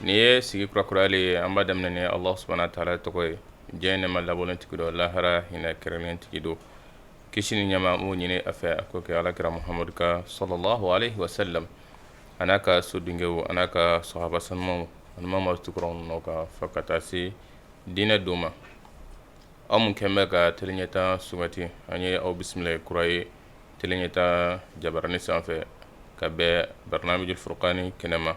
Nin ye sigi kura kura de ye an b'a daminɛ ni Alahu subahana wataala tɔgɔ ye diɲɛ in nɛɛma labɔlen tigi don lahara hinɛ kɛrɛnnen tigi don kisi ni nɛɛma an b'o ɲini a fɛ a k'o kɛ Ala kira Mahamadu kan salalahu alehi wa salamu a n'a ka so dungew a n'a ka sahaba sanumanw ani maa min tugura u nɔ kan fo ka taa se diinɛ don ma aw minnu kɛn bɛ ka teleɲɛtaa sugandi an ye aw bisimila kura ye teleɲɛtaa jabarani sanfɛ ka bɛn barnaamijil furukani kɛnɛ ma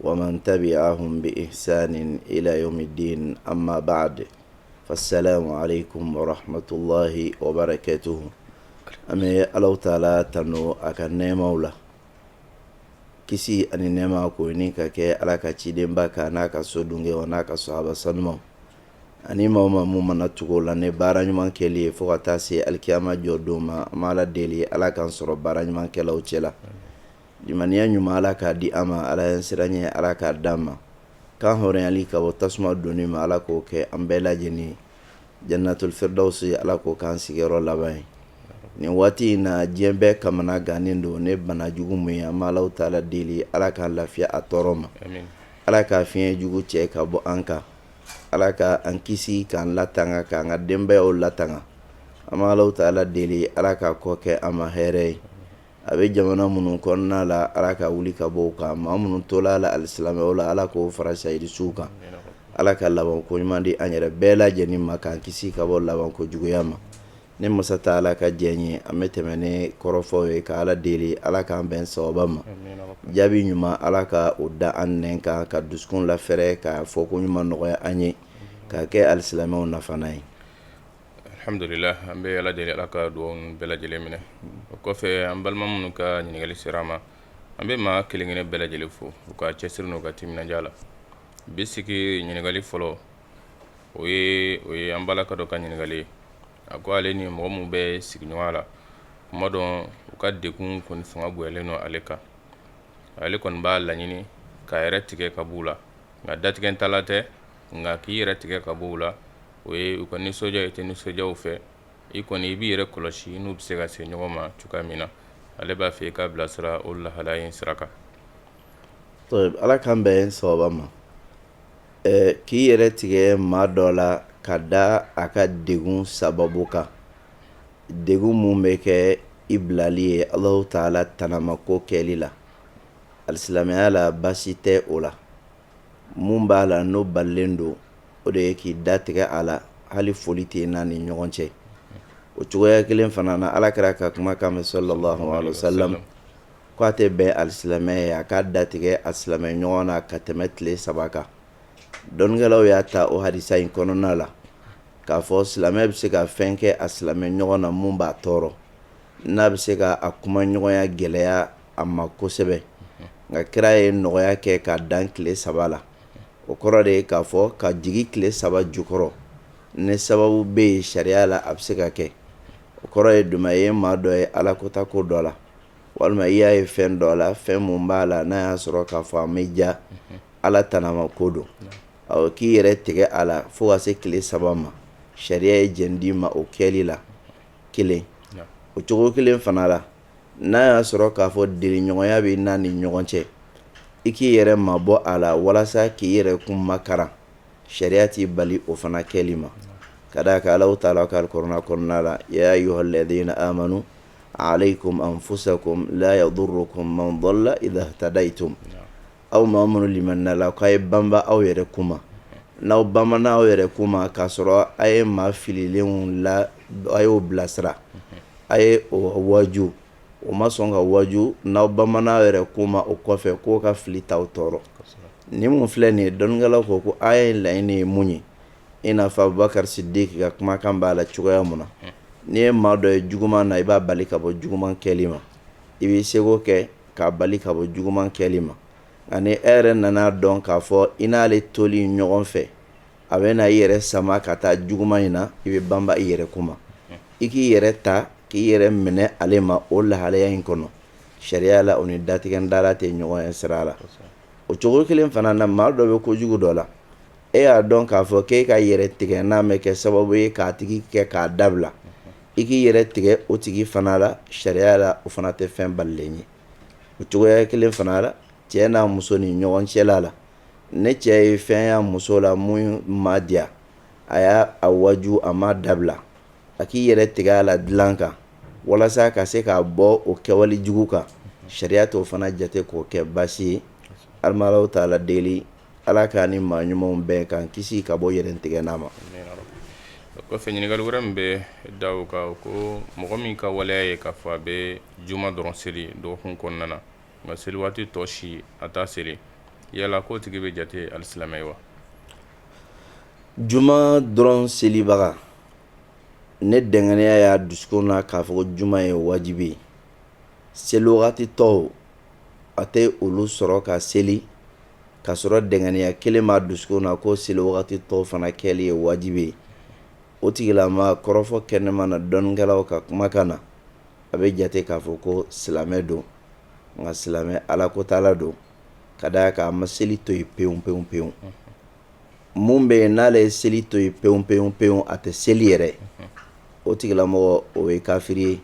wa man tabiahum bi ihisani ila yawmidiini ama baadu fa salamu alayikum warahamatulahi wabarakatuhu an bɛ ala taala tanu a ka nɛɛmaw la kisi ani nɛɛma k'o ɲini ka kɛ ala ka cidenba kan n'a ka so dungew n'a ka sahaba sanumanw ani maa ma mun mana tugu o la ni baara ɲuman kɛli ye fo ka taa se alikiyama jɔ don ma an b'ala deli ala k'an sɔrɔ baara ɲumankɛlaw cɛ la Limaniya ɲuman ala k'a di an ma ala ɲɛsiranɲɛ ala k'a d'an ma kan hɔrɔnyali ka bɔ tasuma donni ma ala k'o kɛ an bɛɛ lajɛlen ye janatuli firidawusi ala k'o k'an sigiyɔrɔ laban ye nin waati in na diɲɛ bɛɛ kamana gannen don ni bana jugu min ye an b'alahu taala deli ala k'a lafiya a tɔɔrɔ ma ala k'a fiɲɛ jugu cɛ ka bɔ an kan ala ka an kisi k'an latanga k'an ka denbayaw latanga an b'alahu taala deli ala k'a kɔ kɛ an ma hɛɛrɛ ye a bɛ jamana minnu kɔnɔna la ala k'a wuli ka b'u kan maa minnu tola a la alisilamɛw la ala k'o fara sahidi suw kan ala ka laban ko ɲuman di an yɛrɛ bɛɛ lajɛlen ma k'an kisi ka bɔ laban ko juguya ma ni masa taala ka diɲɛ ye an bɛ tɛmɛ ni kɔrɔfo ye ka ala deli ala k'an bɛn sawaba ma jaabi ɲuman ala ka o da an nɛn kan ka dusukun lafɛɛrɛ ka fɔko ɲuman nɔgɔya an ye ka kɛ alisilamɛw nafa ye Alhamdulila an bɛ Ala deli Ala ka dugawu ninnu bɛɛ lajɛlen minɛ o kɔfɛ an balima minnu ka ɲininkali sera an ma an bɛ maa kelen kelen bɛɛ lajɛlen fo u ka cɛsiri n'u ka timinandiya la bi sigi ɲininkali fɔlɔ o ye o ye an balimakɛ dɔ ka ɲininkali ye a ko ale ni mɔgɔ minnu bɛ sigiɲɔgɔnya la kuma dɔ u ka degun kɔni fanga bonyalen don ale kan ale kɔni b'a laɲini k'a yɛrɛ tigɛ ka b'u la nka datigɛ ta la tɛ nka k'i yɛrɛ tigɛ ka b'u la o ye u ka nisɔndiya i tɛ nisɔndiya u fɛ i kɔni i b'i yɛrɛ kɔlɔsi n'u bɛ se ka se ɲɔgɔn ma cogoya min na ale b'a fɛ i k'a bilasira o lahala in sira kan ala k'an bɛn sawaba ma k'i yɛrɛ tigɛ maa dɔ la ka da a ka degun sababu kan degun min bɛ kɛ i bilali ye alahu taala tanamako kɛli la alisilamɛya la baasi tɛ o la mun b'a la n'o balilen don o de ye k'i da tigɛ a la hali foli tɛ n'a ni ɲɔgɔn cɛ o cogoya kelen fana na ala kira ka kumakan bɛ salalahu alayihi wasalamu k'a tɛ bɛn alisilamɛ ye a k'a da tigɛ a silamɛ ɲɔgɔn na ka tɛmɛ tile saba kan dɔnnikɛlaw y'a ta o hadisa in kɔnɔna la k'a fɔ silamɛ bɛ se ka fɛn kɛ a silamɛ ɲɔgɔn na min b'a tɔɔrɔ n'a bɛ se ka a kuma ɲɔgɔnya gɛlɛya a ma kosɛbɛ nka kira ye nɔgɔya kɛ k'a dan tile saba la o kɔrɔ de ye k'a fɔ ka jigi tile saba jukɔrɔ ni sababu bɛ yen sariya la a bɛ se ka kɛ o kɔrɔ ye di maa ye maa dɔ ye ala kota ko dɔ la walima i y'a ye fɛn dɔ la fɛn mun b'a la n'a y'a sɔrɔ k'a fɔ an bɛ ja ala tanama ko don k'i yɛrɛ tigɛ a la fo ka se tile saba ma sariya ye jɛn d'i ma o kɛli la kelen o cogo kelen fana la n'a y'a sɔrɔ k'a fɔ deliɲɔgɔnya bɛ n'a ni ɲɔgɔn cɛ i k'i yɛrɛ mabɔ a la walasa k'i yɛrɛ kun makaran sariya t'i bali o fana kɛli ma ka d'a kan Alahu taala ko alikuranɛ kɔnɔna la yaa ayuhalɛdina amanu aleyikumu anfusakumu laa yadurukumu man dɔla idahitadayitum Aw maa minnu limaniyala k'a ye banba aw yɛrɛ kun ma n'aw banbana aw yɛrɛ kun ma k'a sɔrɔ a ye maa fililenw la a y'o bilasira a y'o waju o ma sɔn ka waju n'aw banbana aw yɛrɛ kun ma o kɔfɛ k'o ka fili t'aw tɔɔrɔ ni mun filɛ nin ye dɔnnikɛlaw ko ko aya in laɲini ye mun ye i n'a fɔ Abubakari Sidiki ka kumakan b'a la cogoya min na n'i ye maa dɔ ye juguman na i b'a bali ka bɔ juguman kɛli ma i b'i seko kɛ k'a bali ka bɔ juguman kɛli ma nka ni e yɛrɛ nan'a dɔn k'a fɔ i n'ale toli ɲɔgɔn fɛ a bɛ na i yɛrɛ sama ka taa juguman in na i bɛ banba i yɛrɛ kun ma i k'i yɛrɛ ta k'i yɛrɛ minɛ ale ma o lahalaya in kɔnɔ sariya la o ni datigɛ dala tɛ ɲɔgɔn ye sira la o cogo kelen fana na maa dɔ bɛ ko jugu dɔ la e y'a dɔn k'a fɔ k'e ka yɛrɛ tigɛ n'a bɛ kɛ sababu ye k'a tigi kɛ k'a dabila i k'i yɛrɛ tigɛ o tigi fana la sariya la o fana tɛ fɛn balilen ye o cogoya kelen fana la cɛ n'a muso ni ɲɔgɔn cɛla la ni cɛ ye fɛn y'a muso la min ma diya a y'a waju a ma dabila a k'i yɛrɛ tigɛ a la dilan kan walasa ka se k'a bɔ o kɛwale jugu kan sariya t'o fana jate k'o kɛ baasi ye Alahu taala deli Ala k'an ni maa ɲumanw bɛn k'an kisi ka bɔ yɛrɛtigɛ n'a ma kɔfɛ ɲininkali wɛrɛ min bɛ da o kan ko mɔgɔ min ka waleya ye k'a fɔ a bɛ juma dɔrɔn seli dɔgɔkun kɔnɔna na nka seli waati tɔ si a t'a seli yala k'o tigi bɛ jate alisilamɛ ye wa juma dɔrɔn selibaga ni dɛngɛnɛya y'a dusukun na k'a fɔ juma ye wajibi ye seli wagati tɔw a tɛ olu sɔrɔ ka seli ka sɔrɔ dɛngɛniya kelen b'a dusukun na ko seli wagati tɔw fana kɛli ye wajibi ye o tigilama kɔrɔfɔ kɛnɛman na dɔnnikɛlaw ka kumakan na a bɛ jate k'a fɔ ko silamɛ don nka silamɛ ala ko t'a la don ka d'a kan a ma seli to yen pewu pewu pewu mun bɛ yen n'ale ye seli to yen pewu pewu pewu a tɛ seli yɛrɛ o tigilamɔgɔ o ye kafiri ye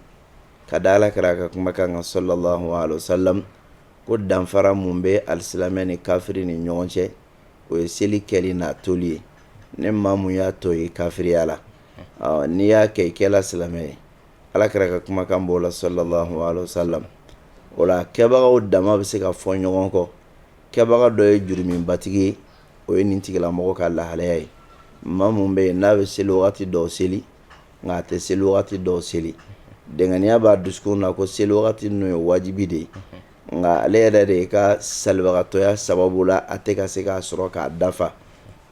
ka da ala kira ka kumakan kan sallallahu alaihi wasallam ko danfara mun bɛ alisilamɛ ni kafiri ni ɲɔgɔn cɛ o ye seli kɛli n'a toli ye ne maa mun y'a to ye kafiriya la n'i y'a kɛ i kɛla silamɛ ye ala kira ka kumakan b'o la sallallahu alaihi wasallam o la kɛbagaw dama bɛ se ka fɔ ɲɔgɔn kɔ kɛbaga dɔ ye jurumibatigi ye o ye nin tigilamɔgɔ ka lahalaya ye maa mun bɛ yen n'a bɛ seli waati dɔw seli nka a tɛ seli wagati dɔw seli dɛngɛniya b'a dusukun na ko seli wagati ninnu ye wajibi de ye nka ale yɛrɛ de i ka salibagatɔya sababu la a tɛ ka se k'a sɔrɔ k'a dafa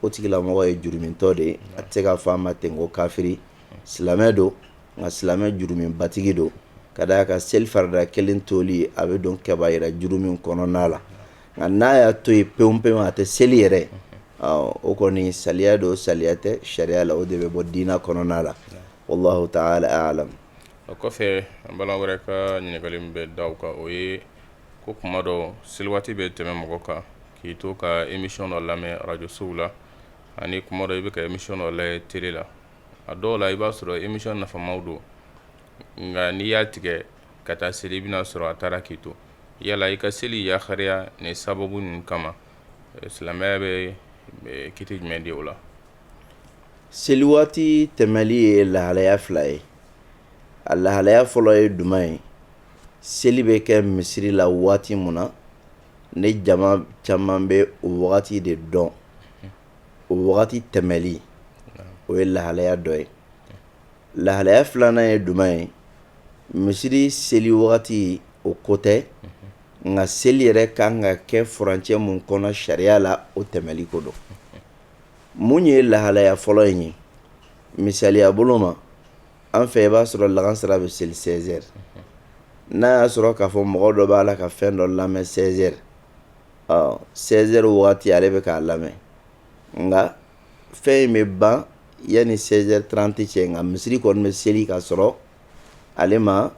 o tigilamɔgɔ ye jurumitɔ de ye a tɛ se ka fɔ a ma ten ko kafiri silamɛ don nka silamɛ jurumibatigi don ka da a kan seli farida kelen toli a bɛ don kɛbayira jurumi kɔnɔna la nka n'a y'a to yen pewu pewu a tɛ seli yɛrɛ o kɔni saliya don saliya tɛ sariya la o de bɛ bɔ diinɛ kɔnɔna la wallahu ta'ala a'lam o kɔfɛ an balima wɛrɛ ka ɲininkali min bɛ da o kan o ye ko kuma dɔ seli waati bɛ tɛmɛ mɔgɔ kan k'i to ka émission dɔ lamɛn arajosow la ani kuma dɔ i bɛ ka émission dɔ lajɛ tele la a dɔw la i b'a sɔrɔ émission nafamaw don nka n'i y'a tigɛ ka taa seli i bɛna sɔrɔ a taara k'i to yala i ka seli yakariya ni sababu ninnu kama silamɛya bɛ kiti jumɛn di o la seli waati tɛmɛli ye lahalaya fila ye a lahalaya fɔlɔ ye duman ye seli bɛ kɛ misiri la waati mun na ne jama caman bɛ o wagati de dɔn o wagati tɛmɛli o ye lahalaya dɔ ye Lahalaya filanan ye jumɛn ye misiri seli wagati o ko tɛ nka seli yɛrɛ ka kan ka kɛ furancɛ mun kɔnɔ sariya la o tɛmɛli ko don mun ye lahalaya fɔlɔ in ye misaliya bolo ma an fɛ i b'a sɔrɔ lagansara bɛ seli sɛzɛri n'a y'a sɔrɔ k'a fɔ mɔgɔ dɔ b'a la ka fɛn dɔ lamɛn sɛzɛri sɛzɛri waati ale bɛ k'a lamɛn nka fɛn in bɛ ban yanni 16 heures 30 cɛ nka misiri kɔni bɛ seli ka sɔrɔ ale ma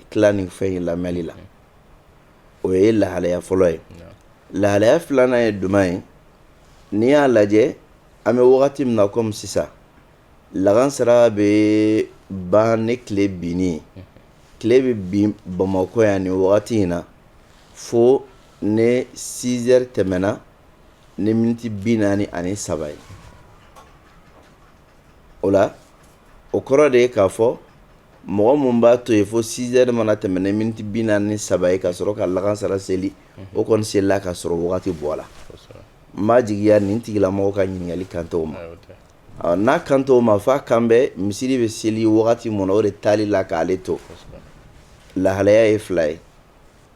tila nin fɛn in lamɛnni la o ye lahalaya fɔlɔ ye lahalaya filanan ye jumɛn ye n'i y'a lajɛ an bɛ wagati min na komi sisan lagansara bɛ ban ni tile binni ye tile bɛ bin bamakɔ yan nin wagati in na fo ni 6 heures tɛmɛna ni miniti bi naani ani saba ye o la o kɔrɔ de ye k'a fɔ mɔgɔ minnu b'a to yen fo sizɛri mana tɛmɛ ni miniti bi naani saba ye ka sɔrɔ ka lagansara seli o kɔni selila ka sɔrɔ wagati bɔra n b'a jigiya nin tigilamɔgɔ ka ɲininkali kan t'o ma n'a kan t'o ma f'a kan bɛ misiri bɛ seli wagati min na o de taali la k'ale to lahalaya ye fila ye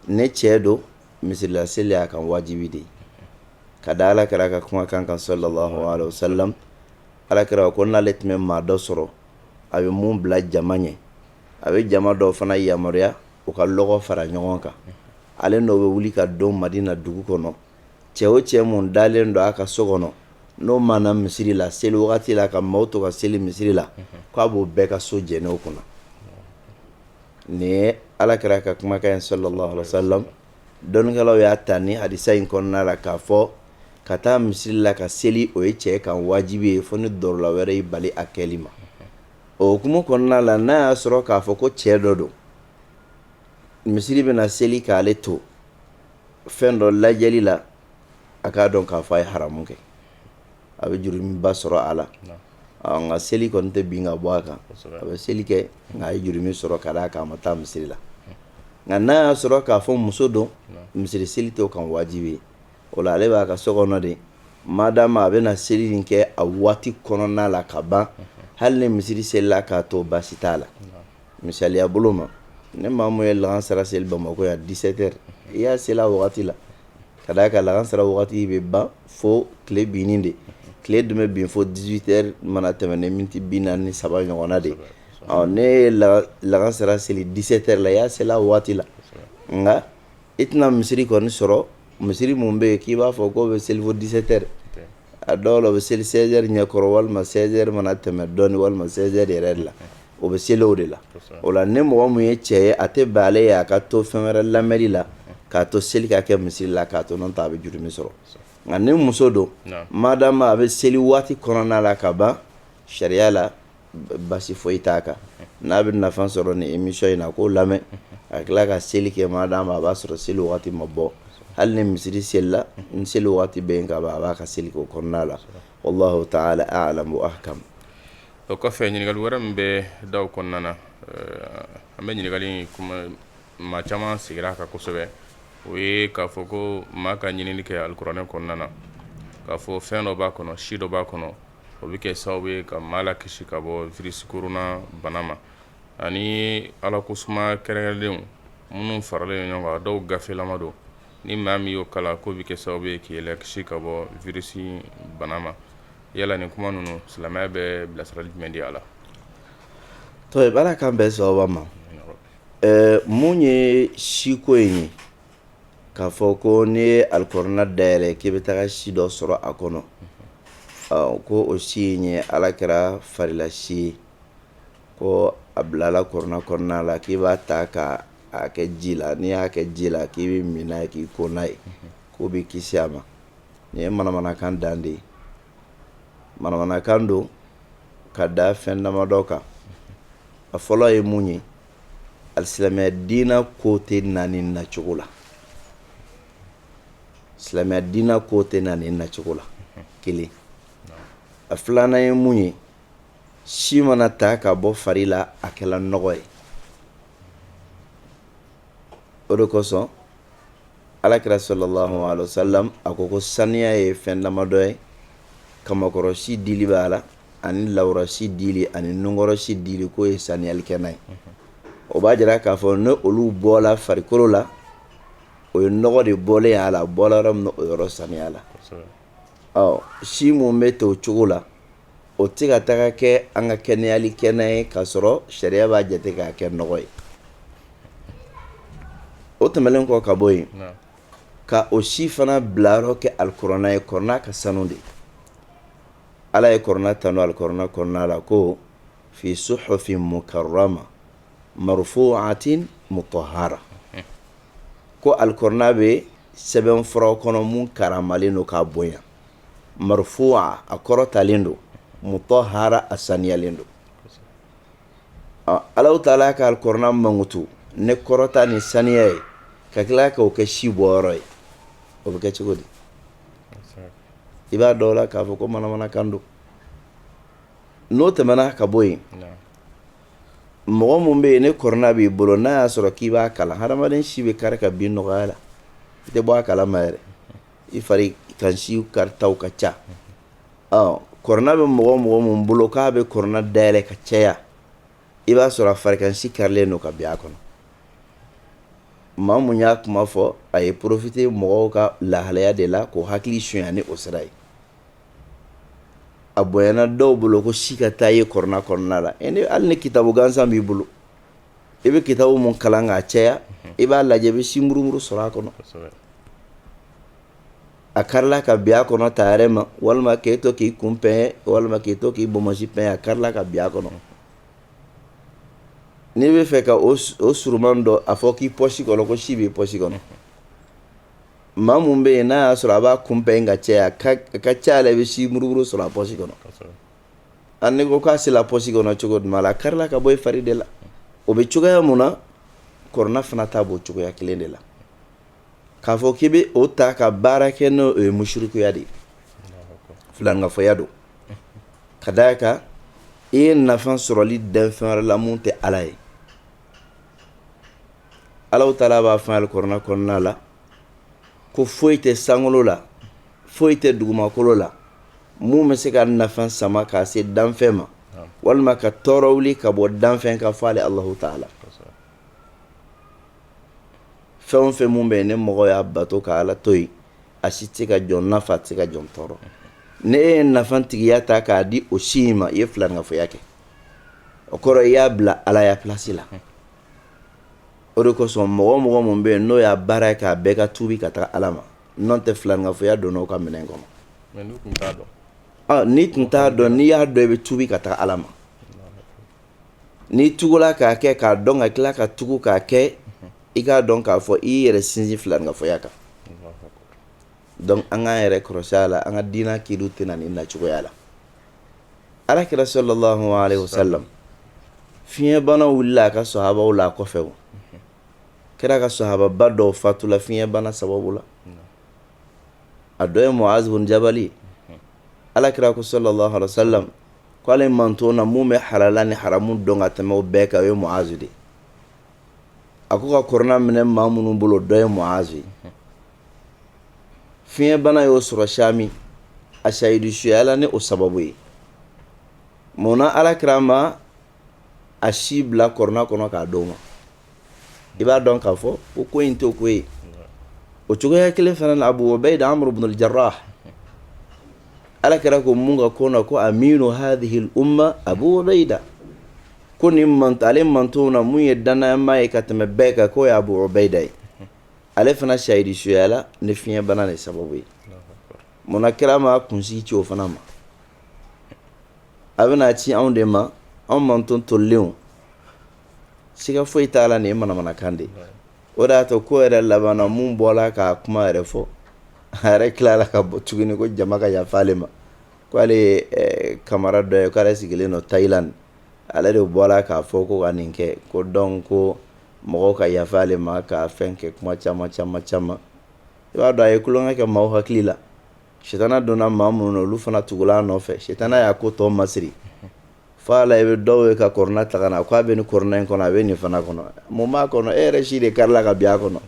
ni cɛ don misirila seli y'a kan wajibi de ye ka da ala kira ka kumakan kan sallallahu alaihi wasallam ala kira ko n'ale tun bɛ maa dɔ sɔrɔ a bɛ min bila jama ɲɛ a bɛ jama dɔw fana yamaruya u ka lɔgɔ fara ɲɔgɔn kan ale n'o bɛ wuli ka don madina dugu kɔnɔ cɛ o cɛ min dalen don a ka so kɔnɔ n'o ma na misiri la seli wagati la ka maaw to ka seli misiri la k'a b'o bɛɛ ka so jɛni o kunna Nin ye ala kira ka kumakan ye sallallahu alaihi wasallam dɔnnikɛlaw y'a ta nin hadisa in kɔnɔna la k'a fɔ ka taa misiri la ka seli o ye cɛ kan wajibi ye fo ni darura wɛrɛ y'i bali a kɛli ma o hukumu kɔnɔna la n'a y'a sɔrɔ k'a fɔ ko cɛ dɔ don misiri bɛna seli k'ale to fɛn dɔ lajɛli la a k'a dɔn k'a fɔ a ye haramu kɛ a bɛ jurumiba sɔrɔ a la nka seli kɔni tɛ bin ka bɔ a kan a bɛ seli kɛ nka a ye jurumi sɔrɔ ka d'a' ma taa misiri la nka n'a y'a sɔrɔ k'a fɔ muso don misiri seli t'o kan wajibi ye o la ale b'a ka so kɔnɔ de madama a bɛna seli nin kɛ a waati kɔnɔna la ka ban hali ni misiri selila k'a to baasi t'a la misaliya bolo ma ni maa min ye lagansara seli bamakɔ yan 17 heures i y'a seli a wagati la Ka d'a kan lagansara waati bɛ ban fo tile binni de tile dun bɛ bin fo 18 heures mana tɛmɛn ni miniti bi naani ni saba ɲɔgɔnna de ɔ n'e ye lagansara seli 17 heures la i y'a seli a waati la nka i tɛna misiri kɔni sɔrɔ misiri min bɛ yen k'i b'a fɔ k'o bɛ seli fo 17 heures a dɔw la o bɛ seli 16 heures ɲɛkɔrɔ walima 16 heures mana tɛmɛ dɔɔni walima 16 heures yɛrɛ de la o bɛ seli o de la o la ni mɔgɔ min ye cɛ ye a tɛ bɛn ale ye a ka to fɛn wɛrɛ lamɛnni la k'a to seli ka kɛ misiri la k'a to n'o tɛ a bɛ jurumi sɔrɔ nka ni muso don madama a bɛ seli waati kɔnɔna la ka ban sariya la basi foyi t'a kan n'a bɛ nafa sɔrɔ ni emisiyɔn in na k'o lamɛn a tila ka seli kɛ madama a b'a sɔrɔ seli waati ma bɔ hali ni misiri selila ni seli waati bɛ yen ka a b'a ka seli k'o kɔnɔna la wallahu ta'ala a'lam wa ahkam o kɔfɛ ɲininkali wɛrɛ min bɛ da kɔnɔna na an bɛ ɲininkali maa caman sigira a kan kosɛbɛ o ye k'a fɔ ko maa ka ɲinini kɛ alikuranɛ kɔnɔna na k'a fɔ fɛn dɔ b'a kɔnɔ si dɔ b'a kɔnɔ o bɛ kɛ sababu ye ka maa lakisi ka bɔ virisi korona bana ma ani ala ko suma kɛrɛnkɛrɛnlenw minnu faralen ɲɔgɔn kan dɔw gafelama don ni maa min y'o kalan k'o bɛ kɛ sababu ye k'i lakisi ka bɔ virisi bana ma yala nin kuma ninnu silamɛya bɛ bilasirali jumɛn di a la to ala k'an bɛn sawaba ma mun ye siko in ye k'a fɔ ko n'i ye alikuranɛ dayɛlɛ k'i bɛ taga si dɔ sɔrɔ a kɔnɔ ko o si in ye alakira farila si ye ko a bilala kuranɛ kɔnɔna la k'i b'a ta ka a kɛ ji la n'i y'a kɛ ji la k'i b'a min k'i ko n'a ye k'o b'i kisi a ma nin ye manamanakan dan de ye manamanakan don ka da fɛn damadɔ kan a fɔlɔ ye mun ye alisilamɛya diina ko tɛ na nin nacogo la silamɛya diina ko tɛ na nin nacogo la kelen a filanan ye mun ye si mana ta ka bɔ fari la a kɛla nɔgɔ ye o de kosɔn alakira sallallahu alaihi wasallam a ko ko saniya ye fɛn damadɔ ye kamankɔrɔsi dili b'a la ani lawura si dili ani nunkɔrɔsi dili k'o ye saniyali kɛnan ye o b'a jira k'a fɔ ni olu bɔla farikolo la o ye nɔgɔ de bɔlen a la bɔla yɔrɔ min na o yɔrɔ saniyala ɔ si min bɛ to o cogo la O tɛ ka taga kɛ an ka kɛnɛyali kɛnan ye k'a sɔrɔ sariya b'a jate k'a kɛ nɔgɔ ye o tɛmɛnen kɔ ka bɔ yen ka o si fana bilayɔrɔ kɛ alikuranɛ ye kuranɛ ka sanu de ala ye kuranɛ tanu alikuranɛ kɔnɔna la ko fi suhufin mukarrama marfu'atin mutahhara ko alikuranɛ bɛ sɛbɛn fura kɔnɔ minnu karamalen don k'a bonya marfu'a a kɔrɔtalen don mutahhara a saniyalen don ala taala ka kuranɛ mankutu ni kɔrɔta ni saniya ye ka tila k'o kɛ si bɔyɔrɔ ye o bɛ kɛ cogo di i b'a dɔn o la k'a fɔ ko manamanakan don n'o tɛmɛna ka bɔ yen mɔgɔ minnu bɛ yen ni kuranɛ b'i bolo n'a y'a sɔrɔ k'i b'a kalan hadamaden si bɛ kari ka bin nɔgɔya la i tɛ bɔ a kalama yɛrɛ I farikansi karitaw ka ca kɔrɔna bɛ mɔgɔ o mɔgɔ mun bolo k'a bɛ kɔrɔna dayɛlɛ ka caya i b'a sɔrɔ a farikansi karilen don ka bin a kɔnɔ maa mun y'a kuma fɔ a ye porofite mɔgɔw ka lahalaya de la k'o hakili sonya ni o sira ye a bonyana dɔw bolo ko si ka taa ye kɔrɔna kɔnɔna la hali ni kitabu gansan b'i bolo i bɛ kitabu mun kalan k'a caya i b'a lajɛ i bɛ si murumuru sɔrɔ a kɔnɔ a karila ka bin a kɔnɔ ta yɛrɛ ma walima k'e to k'i kun pɛn walima k'i to k'i bonsi pɛn a karila ka bin a kɔnɔ n'i bɛ fɛ ka o suruman dɔn a fɔ k'i pɔsi kɔnɔ ko si b'i pɔsi kɔnɔ maa mun bɛ yen n'a y'a sɔrɔ a b'a kun pɛn ka caya a ka ca la i bɛ si murumuru sɔrɔ a pɔsi kɔnɔ a n'i ko k'a sela pɔsi kɔnɔ cogo duma la a karila ka bɔ i fari de la o bɛ cogoya mun na kɔrɔna fana ta b'o cogoya kelen de la k'a fɔ k'i bɛ o ta ka baara kɛ n'o ye musirikuya de ye filankafoya don ka d'a kan i ye nafa sɔrɔli danfɛn wɛrɛ la mun tɛ ala ye alahu taala b'a fɔ alikɔrɔna kɔnɔna la ko foyi tɛ sankolo la foyi tɛ dugumakolo la mun bɛ se ka nafa sama k'a se danfɛn ma walima ka tɔɔrɔ wuli ka bɔ danfɛn kan fo alahu taala fɛn o fɛn mun bɛ yen ni mɔgɔ y'a bato ka ala to yen a si tɛ ka jɔn nafa a si tɛ ka jɔn tɔɔrɔ n'i ye nafa tigiya ta k'a di o si in ma i ye filankafoya kɛ o kɔrɔ i y'a bila alaya plasi la o de kosɔn mɔgɔ o mɔgɔ mun bɛ yen n'o y'a baara ye k'a bɛɛ ka tubi ka taa ala ma N'o tɛ filankafoya donna o ka minɛn kɔnɔ n'i tun t'a dɔn n'i y'a dɔn i bɛ tubi ka taa ala ma n'i tugula k'a kɛ k'a dɔn ka tila ka tugu k'a kɛ i k'a dɔn k'a fɔ i yɛrɛ sinsin filankafoya kan an k'an yɛrɛ kɔlɔsi a la an ka diinɛ kiriw tɛ na nin nacogoya la alakira salalahu alayihi wasalam fiɲɛbana wulila a ka sahabaw la a kɔfɛ o kira ka sahababa dɔw fatula fiɲɛbana sababu la a dɔ ye Muazu bun Jabali alakira ko salalahu alayihi wasalam k'ale mantɔn na mun bɛ halala ni haramu dɔn ka tɛmɛ o bɛɛ kan o ye Muazu de ye a ko ka kɔrɔna minɛ maa minnu bolo dɔ ye Muazu ye fiɲɛbana y'o sɔrɔ Sami a sahidu suyala ni o sababu ye munna alakira ma a si bila kurana kɔnɔ k'a d'o ma i b'a dɔn k'a fɔ ko ko in tɛ ko ye o cogoya kelen fana na Abu Ubaida Amir ibn Jarrah ala kira ko mun ka ko na ko aminu hadhihi al-umma Abu Ubaida ko ni man ale mantɔn na mun ye dannamaa ye ka tɛmɛ bɛɛ kan k'o ye Abu Ubaida ye ale fana shahidi suyala ni fiɲɛbana de sababu ye munna kira ma kunsigi ci o fana ma a bɛna ci anw de ma anw mantɔn tolenw siga foyi t'a la nin ye manamanakan de o de y'a to ko yɛrɛ laban na mun bɔla ka kuma yɛrɛ fɔ a yɛrɛ tilala ka bɔ tuguni ko jama ka yafa ale ma ko ale ye Kamara dɔ ye k'ale sigilen don Thailand ale de bɔla k'a fɔ ko ka nin kɛ ko donc ko mɔgɔw ka yafa ale ma ka fɛn kɛ kuma caman caman caman i b'a dɔn a ye tulonkɛ kɛ maaw hakili la Sitana donna maa minnu na olu fana tugula a nɔfɛ sitana y'a ko tɔ masiri fo ala i bɛ dɔw ye ka kurana ta ka na k'a bɛ nin kurana in kɔnɔ a bɛ nin fana kɔnɔ mun b'a kɔnɔ e yɛrɛ si de karila ka bin a kɔnɔ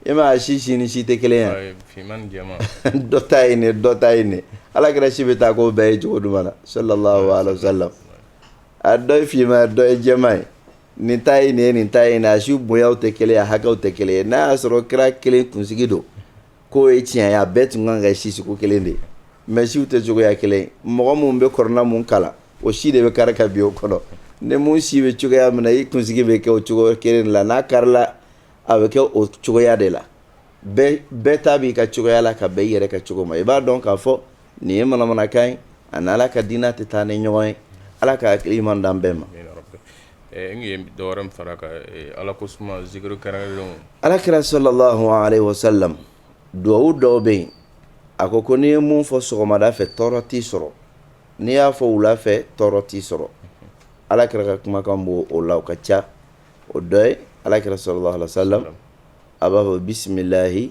e m' si si ni si tɛ kelen ye dɔ ta ye nin dɔ ta ye nin ala kira si bɛ taa k'o bɛɛ ye cogo jumɛn na sallallahu alaihi wasallam a dɔ ye finman ye dɔ ye jɛman ye nin ta ye nin ye nin ta ye nin a si bonya tɛ kelen ye a hakɛw tɛ kelen ye n'a y'a sɔrɔ kira kelen kunsigi don K'o ye tiɲɛ ye a bɛɛ tun kan ka kɛ si sugu kelen de ye mais siw tɛ cogoya kelen ye mɔgɔ mun bɛ kurana mun kalan o si de bɛ kari ka bin o kɔnɔ ni mun si bɛ cogoya min na i kunsigi bɛ kɛ o cogo kelen de la n'a karila a bɛ kɛ o cogoya de la bɛɛ ta b'i ka cogoya la ka bɛn i yɛrɛ ka cogo ma i b'a dɔn k'a fɔ nin ye manamanakan ye a ni ala ka diinɛ tɛ taa ni ɲɔgɔn ye ala ka hakili ɲuman d'an bɛɛ ma dɔw fara ala ko ala kira sallallahu alaihi wasallam dugawu dɔw bɛ yen a ko ko n'i ye mun fɔ sɔgɔmada fɛ tɔɔrɔ t'i sɔrɔ n'i y'a fɔ wula fɛ tɔɔrɔ t'i sɔrɔ ala kira ka kumakan b'o la o ka ca o dɔ ye ala kira sallallahu alaihi wasallam a b'a fɔ bisimilahi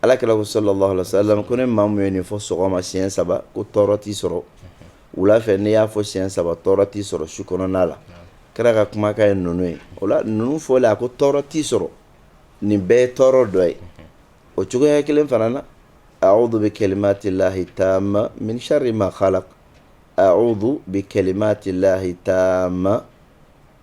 Ala kira sallallahu alaihi wasallam ko ni maa mun ye nin fɔ sɔgɔma siyɛn saba ko tɔɔrɔ t'i sɔrɔ wula fɛ n'i y'a fɔ siyɛn saba tɔɔrɔ t'i sɔrɔ su kɔnɔ ala kira ka kumakan ye ninnu ye o la ninnu fɔla a ko tɔɔrɔ t'i sɔrɔ nin bɛɛ ye tɔɔrɔ dɔ ye o cogoya kelen fana na a'udhu bi kalimatillahi tamma min sharri ma khalaq a'udhu bi kalimatillahi tamma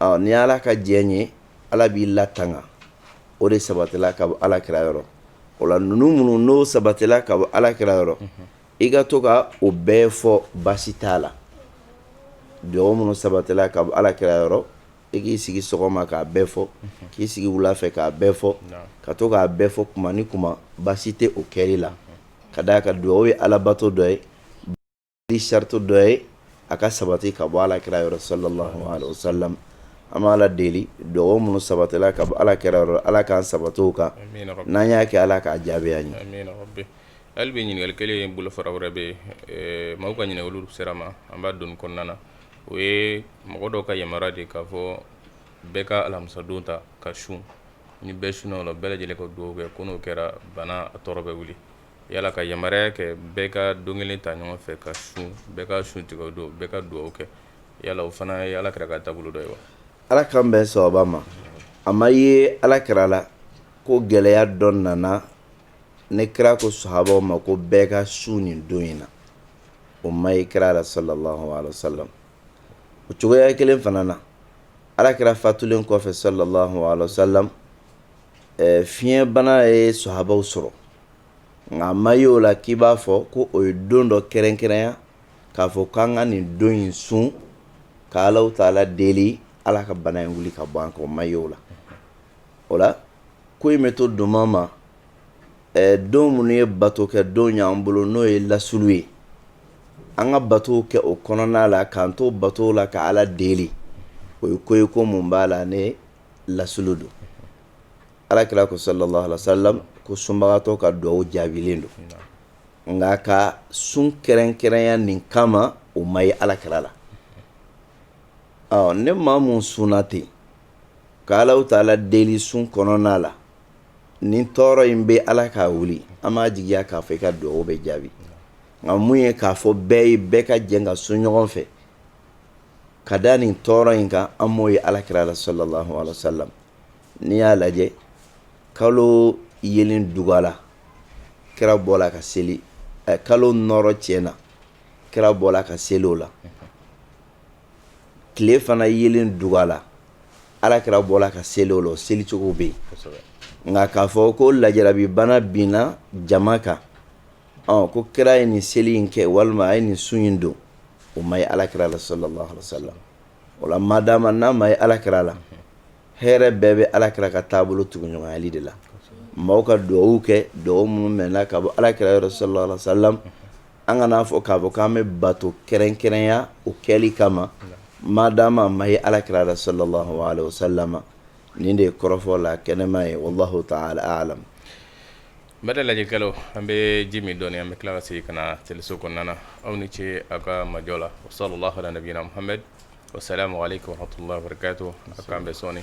ɔ ni ala ka diɲɛ ye ala b'i latanga o de sabatila ka bɔ ala kira yɔrɔ o la ninnu minnu n'o sabatila ka bɔ ala kira yɔrɔ i ka to ka o bɛɛ fɔ baasi t'a la dugawu minnu sabatila ka bɔ ala kira yɔrɔ i k'i sigi sɔgɔma k'a bɛɛ fɔ k'i sigi wula fɛ k'a bɛɛ fɔ ka to k'a bɛɛ fɔ kuma ni kuma baasi tɛ o kɛli la ka d'a kan dugawu ye alabato dɔ ye ni sarati dɔ ye a ka sabati ka bɔ ala kira yɔrɔ sallallahu alaihi wa sallam an b'a ala deli dugawu minnu sabatila ka bɔ ala kira yɔrɔ ala k'an sabati u kan n'an y'a kɛ ala k'a jaabi an ye hali bi ɲininkali kelen in bolo fara wɛrɛ bɛ mɔgɔw ka ɲininkali olu sera ma an b'a don kɔnɔna na o ye mɔgɔ dɔw ka yamaruya de k'a fɔ bɛɛ ka alamisadon ta ka sun ni bɛɛ sunna o la bɛɛ lajɛlen ka dugawu kɛ ko n'o kɛra bana tɔɔrɔ bɛ wuli Yala ka yamaruya kɛ bɛɛ ka don kelen ta ɲɔgɔn fɛ ka sun bɛɛ ka sun tigɛ don bɛɛ ka dugawu kɛ yala o fana ye ala kira ka taabolo dɔ ye wa ala k'an bɛn sawaba ma a ma ye ala kira la ko gɛlɛya dɔ nana ni kira ko sahabaw ma ko bɛɛ ka sun nin don in na o ma ye kira la sallallahu alaihi wa sallam o cogoya kelen fana na ala kira fatulen kɔfɛ sallallahu alaihi wa sallam fiɲɛbana ye sahabaw sɔrɔ nka a ma ye o la k'i b'a fɔ ko o ye don dɔ kɛrɛnkɛrɛnya k'a fɔ k'an ka nin don in sun ka Alahu taala deli Ala ka bana in wuli ka bɔ an kan o ma ye o la o la ko in bɛ to doma ma don minnu ye bato kɛ don y'an bolo n'o ye lasulu ye an ka batow kɛ o kɔnɔna la k'an to batow la ka Ala deli o ye ko ye ko mun b'a la ne lasulu don ala kira ko sallallahu alaihi wa sallam ko sunbagatɔ ka dugawu jaabilen don nka ka sun kɛrɛnkɛrɛnya nin kama o ma ye ala kira la ni maa mun sunna ten ka Alahu taala deli sun kɔnɔna la ni tɔɔrɔ in bɛ ala k'a wuli an b'a jigiya k'a fɔ i ka dugawu bɛ jaabi nka mun ye k'a fɔ bɛɛ ye bɛɛ ka jɛ ka sun ɲɔgɔn fɛ ka da nin tɔɔrɔ in kan an m'o ye ala kira la sallallahu alaihi wa sallam n'i y'a lajɛ kalo yelen dugala kira bɔla ka seli eh, kalo nɔrɔ tiɲɛna kira bɔla ka seli o la tile fana yelen dugala ala kira bɔla ka seli o la o seli cogo bɛ yen nka k'a fɔ ko lajarabi bana binna jama kan ɔ ko kira ye nin seli in kɛ walima a ye nin sun in don o ma ye ala kira la sallallahu alaihi wa sallam O la madama n'a ma ye ala kira la hɛrɛ bɛɛ bɛ ala kira ka taabolo tuguɲɔgɔnyali de la mɔgɔw ka dugawu kɛ dugawu minnu mɛnna ka bɔ ala kira yɔrɔ sallallahu alaihi wa sallam an kan'a fɔ k'a fɔ k'an bɛ bato kɛrɛnkɛrɛnya o kɛli kama madama a ma ye ala kira la sallallahu alaihi wa sallam nin de ye kɔrɔfɔ la kɛnɛma ye wallahu taala a'lam N bɛ lajɛkɛlaw an bɛ ji min dɔn an bɛ tila ka se ka na cɛso kɔnɔna aw ni ce aw ka majɔ la o sala nabihame o sariya ma ale ko hato k'an bɛ sɔɔni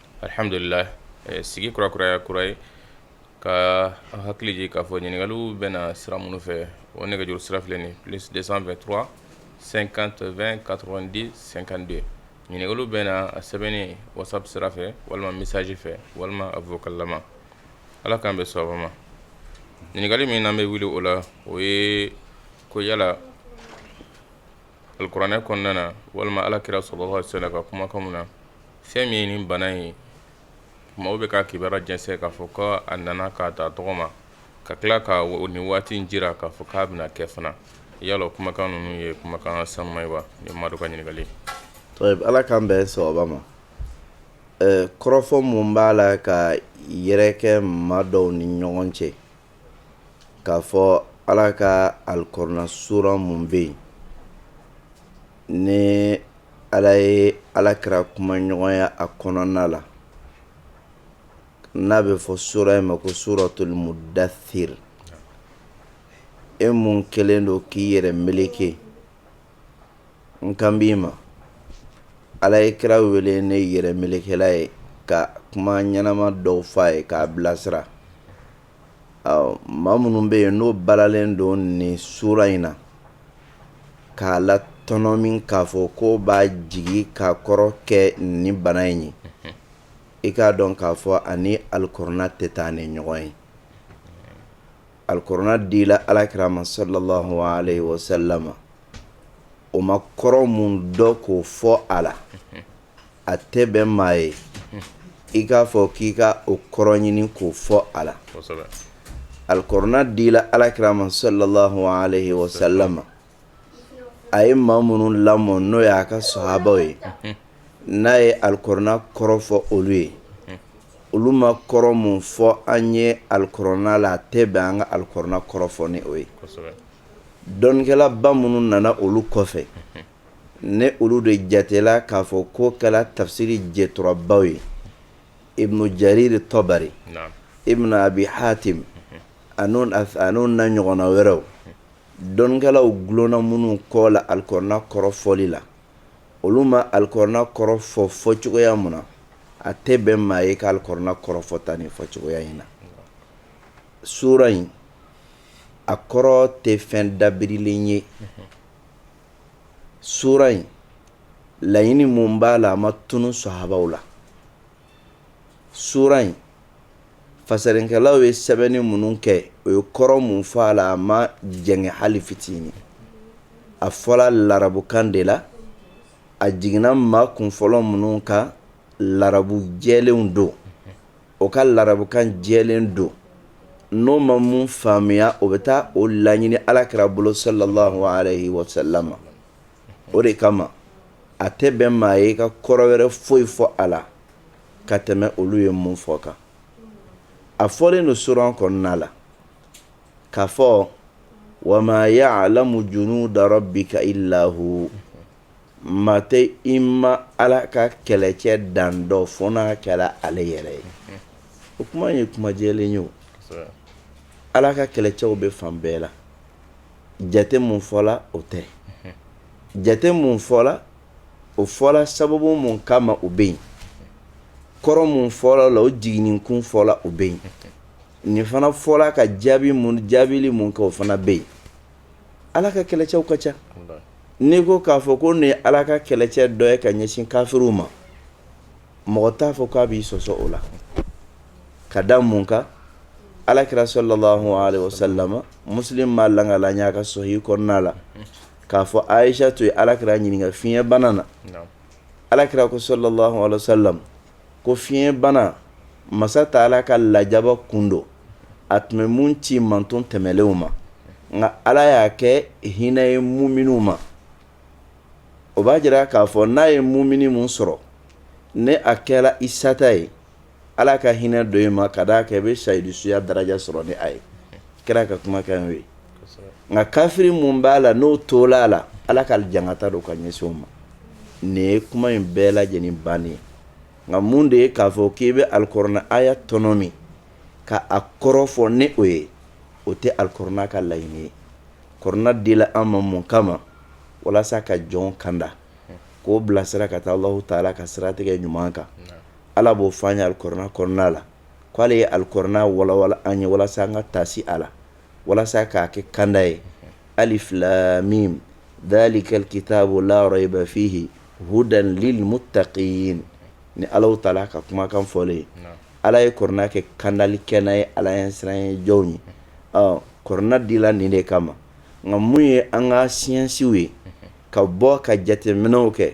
Alihamdulila sigi kurakuraya kura ye ka hakiliji k'a fɔ ɲininkaliw bɛ na sira minnu fɛ o nɛgɛjuru sira filɛ nin plus deux cent vingt-trois cinquante vingt quatre-vingt-dix cinquante-deux ɲininkaliw bɛ na a sɛbɛnnen whatsapp sira fɛ walima message fɛ walima a vocal lama ala k'an bɛn sawaba ma ɲininkali min n'an bɛ wuli o la o ye ko yala Alikuranɛ kɔnɔna na walima ala kira sallallahu alaihi wasallam ka kumakanw na fɛn min ye nin bana ye maaw bɛ ka kibaruya jɛnsɛn k'a fɔ ko a nana k'a ta tɔgɔ ma ka tila ka nin waati in jira k'a fɔ k'a bɛna kɛ fana yala kumakan ninnu ye kumakan sanuman ye wa nin maa dɔ ka ɲininkali ala k'an bɛn sawaba ma kɔrɔfɔ min b'a la ka yɛrɛkɛ maa dɔw ni ɲɔgɔn cɛ k'a fɔ ala ka alikɔrɔna sura min bɛ yen ni ala ye ala kira kuma ɲɔgɔnya a kɔnɔna la n'a bɛ fɔ sura in ma ko suratul mudathir e min kɛlen don k'i yɛrɛ meleke n kan b'i ma ala ye kira wele ni yɛrɛ melekela ye ka kuma ɲɛnama dɔw f'a ye k'a bilasira maa minnu bɛ yen n'o balalen don nin sura in na k'a latɔnɔmi k'a fɔ k'u b'a jigi k'a kɔrɔ kɛ nin bana in ye i k'a dɔn k'a fɔ a ni alikɔrɔna tɛ taa ni ɲɔgɔn ye Alikɔrɔna dila alakira ma sallallahu alaihi wasallam o ma kɔrɔ min dɔn k'o fɔ a la a tɛ bɛn maa ye i k'a fɔ k'i ka o kɔrɔ ɲini k'o fɔ a la alikɔrɔna dila alakira ma sallallahu alaihi wasallam a ye maa minnu lamɔ n'o ye a ka sahabaw ye n'a ye alikɔrɔna kɔrɔ fɔ olu ye olu ma kɔrɔ min fɔ an ye alikɔrɔna la a tɛ bɛn an ka alikɔrɔna kɔrɔ fɔ ni o ye dɔnnikɛlaba minnu nana olu kɔfɛ ni olu de jatela k'a fɔ k'u kɛra tafsiri jɛturabaw ye ibnu jariri tɔbari ibnu abi hatim an'u na ɲɔgɔnna wɛrɛw dɔnnikɛlaw gulonna minnu kɔ la alikuranɛ kɔrɔfɔli la olu ma alikuranɛ kɔrɔ fɔ fɔcogoya min na a tɛ bɛn maa ye ka alikuranɛ kɔrɔ fɔ tan nin fɔcogoya in na sura in a kɔrɔ tɛ fɛn dabirilen ye sura in laɲini mun b'a la a ma tunun sahabaw la sura in fasarinkɛlaw ye sɛbɛnni minnu kɛ o ye kɔrɔ mun fɔ a la a ma jɛngɛ hali fitinin a fɔra larabukan de la a jiginna maa kunfɔlɔ minnu kan larabu jɛlenw don o ka larabukan jɛlen don n'o ma mun faamuya o bɛ taa o laɲini alakira bolo sallallahu alaihi wasallam o de kama a tɛ bɛn maa ye ka kɔrɔ wɛrɛ foyi fɔ a la ka tɛmɛ olu ye mun fɔ kan a fɔlen don sura kɔnɔna la k'a fɔ wa ma ya'lamu junuda rabbika illa hu maa tɛ i ma ala ka kɛlɛcɛ dan dɔn fo n'a kɛra ale yɛrɛ ye o kuma ye kuma jɛlen ye o ala ka kɛlɛcɛw bɛ fan bɛɛ la jate mun fɔla o tɛ jate mun fɔla o fɔra sababu mun kama o bɛ yen kɔrɔ mun fɔra a la o jiginni kun fɔra o bɛ yen nin fana fɔra ka jaabi mun jaabili mun kɛ o fana bɛ yen ala ka kɛlɛcɛw ka ca n'i ko k'a fɔ ko nin ye ala ka kɛlɛcɛ dɔ ye ka ɲɛsin kafiriw ma mɔgɔ t'a fɔ k'a b'i sɔsɔ o la ka da mun kan alakira sallallahu alaihi wasallam muslim b'a lakali an y'a ka sahih kɔnɔna la k'a fɔ ayisatu ye alakira ɲininka fiɲɛ bana na alakira ko sallallahu alaihi wasallam ko fiɲɛ bana masa taala ka lajaba kun don a tun bɛ mun ci manton tɛmɛlenw ma nka ala y'a kɛ hinɛ ye muminiw ma o b'a jira k'a fɔ n'a ye mumini mun sɔrɔ ni a kɛra i sata ye Ala ka hinɛ don i ma ka d'a kan i bɛ sahidu suya daraja sɔrɔ nin ye kira ka kumakan ye nka kafiri mun b'a la n'o tola a la Ala ka jankata don ka ɲɛsin o ma nin ye kuma in bɛɛ lajɛlen bannen ye nka mun de ye k'a fɔ k'i bɛ alikuranɛ aya tɔnɔmi ka a kɔrɔ fɔ ni o ye o tɛ alikuranɛ ka laɲini ye kuranɛ dila an ma mun kama walasa ka jɔn kanda k'o bilasira ka taa Alahu taala ka siratigɛ ɲuman kan. Ala b'o fɔ an ye alikuranɛ kɔnɔna la k'ale ye alikuranɛ walawala an ye walasa an ka taasi a la walasa k'a kɛ kanda ye alif lam mim dhalikal kitabu la rayba fihi hudan lil muttaqin ni Alahu Taala ka kumakan fɔlen ye ala ye kuranɛ kɛ kandali kɛnɛ ye ala ɲɛsiranɲɛ jɔnw ye kuranɛ dila nin de kama nka mun ye an ka siyansiw ye ka bɔ ka jateminɛw kɛ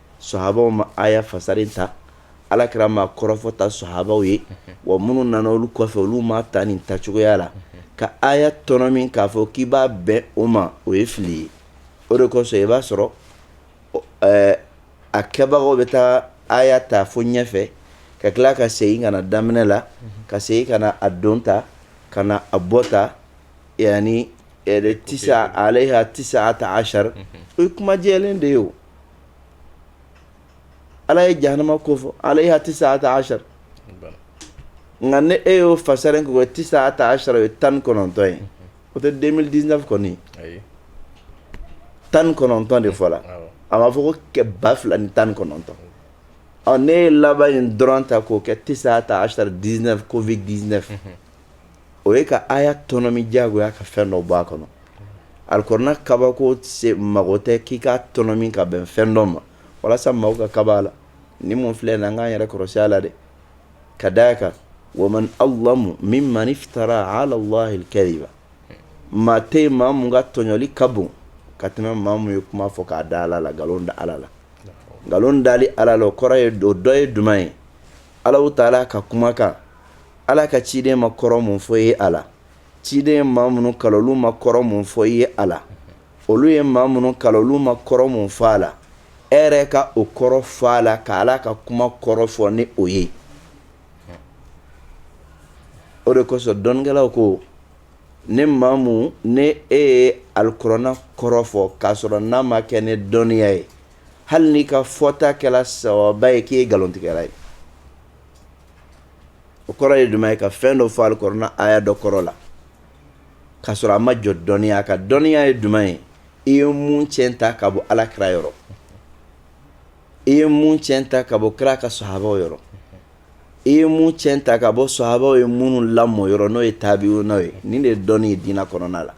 sahabaw ma aya fasari tan ala kira m'a kɔrɔ fɔ tan sahabaw ye wa minnu nana olu kɔfɛ olu m'a ta nin tacogoya la ka aya tɔnɔmi k'a fɔ k'i b'a bɛn o ma o ye fili ye o de kosɔn i b'a sɔrɔ a kɛbagaw bɛ taa aya ta fo ɲɛfɛ ka tila ka segin ka na daminɛ la ka segin ka na a don tan ka na a bɔ tan yaani tisa alayha tis'ata ashar o ye kuma jɛlen de ye ala ye jahanama ko fɔ alayha tis'ata ashar nka ni e y'o fasari ko tis'ata ashar o ye tan kɔnɔntɔn ye o tɛ 2019 kɔni tan kɔnɔntɔn de fɔla a ma fɔ ko kɛ ba fila ni tan kɔnɔntɔn ɔ ni e ye laban in dɔrɔn ta k'o kɛ tis'ata ashar 19 covid 19 o ye ka aya tɔnɔmi jagoya ka fɛn dɔ bɔ a kɔnɔ alikuranɛ kabako se mago tɛ k'i k'a tɔnɔmi k'a bɛn fɛn dɔ ma walasa mɔgɔw ka kaba a la ni mun filɛ nin an k'an yɛrɛ kɔrɔsi a la dɛ ka da a kan wa man azlamu mimman iftara alallahi alkadiba maa tɛ yen maa mun ka tɔɲɔli ka bon ka tɛmɛ maa mun ye kuma fɔ k'a da ala la nkalon da ala la nkalon dali ala la o kɔrɔ ye o dɔ ye jumɛn ye Alahu Taala ka kumakan Ala ka ciden ma kɔrɔ mun fɔ i ye a la ciden ye maa minnu kalan olu ma kɔrɔ mun fɔ i ye a la olu ye maa minnu kalan olu ma kɔrɔ min fɔ a la e yɛrɛ ka o kɔrɔ fɔ a la ka ala ka kuma kɔrɔ fɔ ni o ye o de kosɔn dɔnnikɛlaw ko ni maa mun ni e ye alikurana kɔrɔ fɔ k'a sɔrɔ n'a ma kɛ ni dɔnniya ye hali n'i ka fɔta kɛla sawaba ye k'i ye nkalontigɛla ye o kɔrɔ ye jumɛn ye ka fɛn dɔ fɔ alikɔrɔna aya dɔ kɔrɔ la k'a sɔrɔ a ma jɔ dɔnniya kan dɔnniya ye jumɛn ye i ye mun tiɲɛ ta ka bɔ ala kira yɔrɔ i ye mun tiɲɛ ta ka bɔ kira ka sahabaw yɔrɔ i ye mun tiɲɛ ta ka bɔ sahabaw ye minnu lamɔ yɔrɔ n'o ye tabi'unaw ye nin de ye dɔnni ye diinɛ kɔnɔna la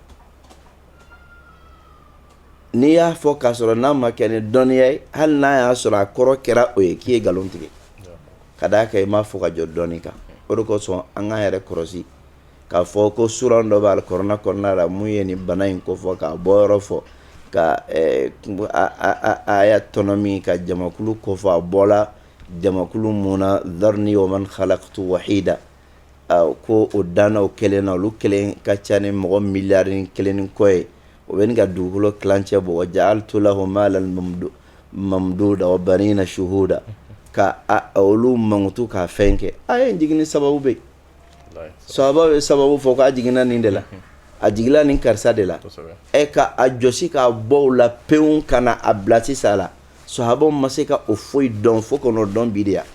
N'i y'a fɔ k'a sɔrɔ n'a ma kɛ ni dɔnniya ye hali n'a y'a sɔrɔ a kɔrɔ kɛra o ye k'i ye nkalon tigɛ ka d'a kan i m'a fɔ ka jɔ dɔnni kan o de kosɔn an k'an yɛrɛ kɔlɔsi k'a fɔ ko sura dɔ b'alikurana kɔnɔna la mun ye nin bana in kofɔ k'a bɔyɔrɔ fɔ ka aya tɔnɔmi ka jamakulu kofɔ a bɔla jamakulu mun na zarni wa man halakutu wahida ko o danna o kelen na olu kelen ka ca ni mɔgɔ miliyari kelen ni kɔ ye o bɛ ka dugukolo kilancɛ bɔ wa ja'altu lahu malan mamduda wa banina suhuda ka olu mankutu ka fɛn kɛ aya jigin sababu bɛ sahaba ye sababu fɔ k'a jiginna nin de la a jigila nin karisa de la ɛ ka a jɔsi k'a bɔ la pewu ka na a bila sisan la sahabaw ma se ka o foyi dɔn fo kɔnɔ dɔn bi de yan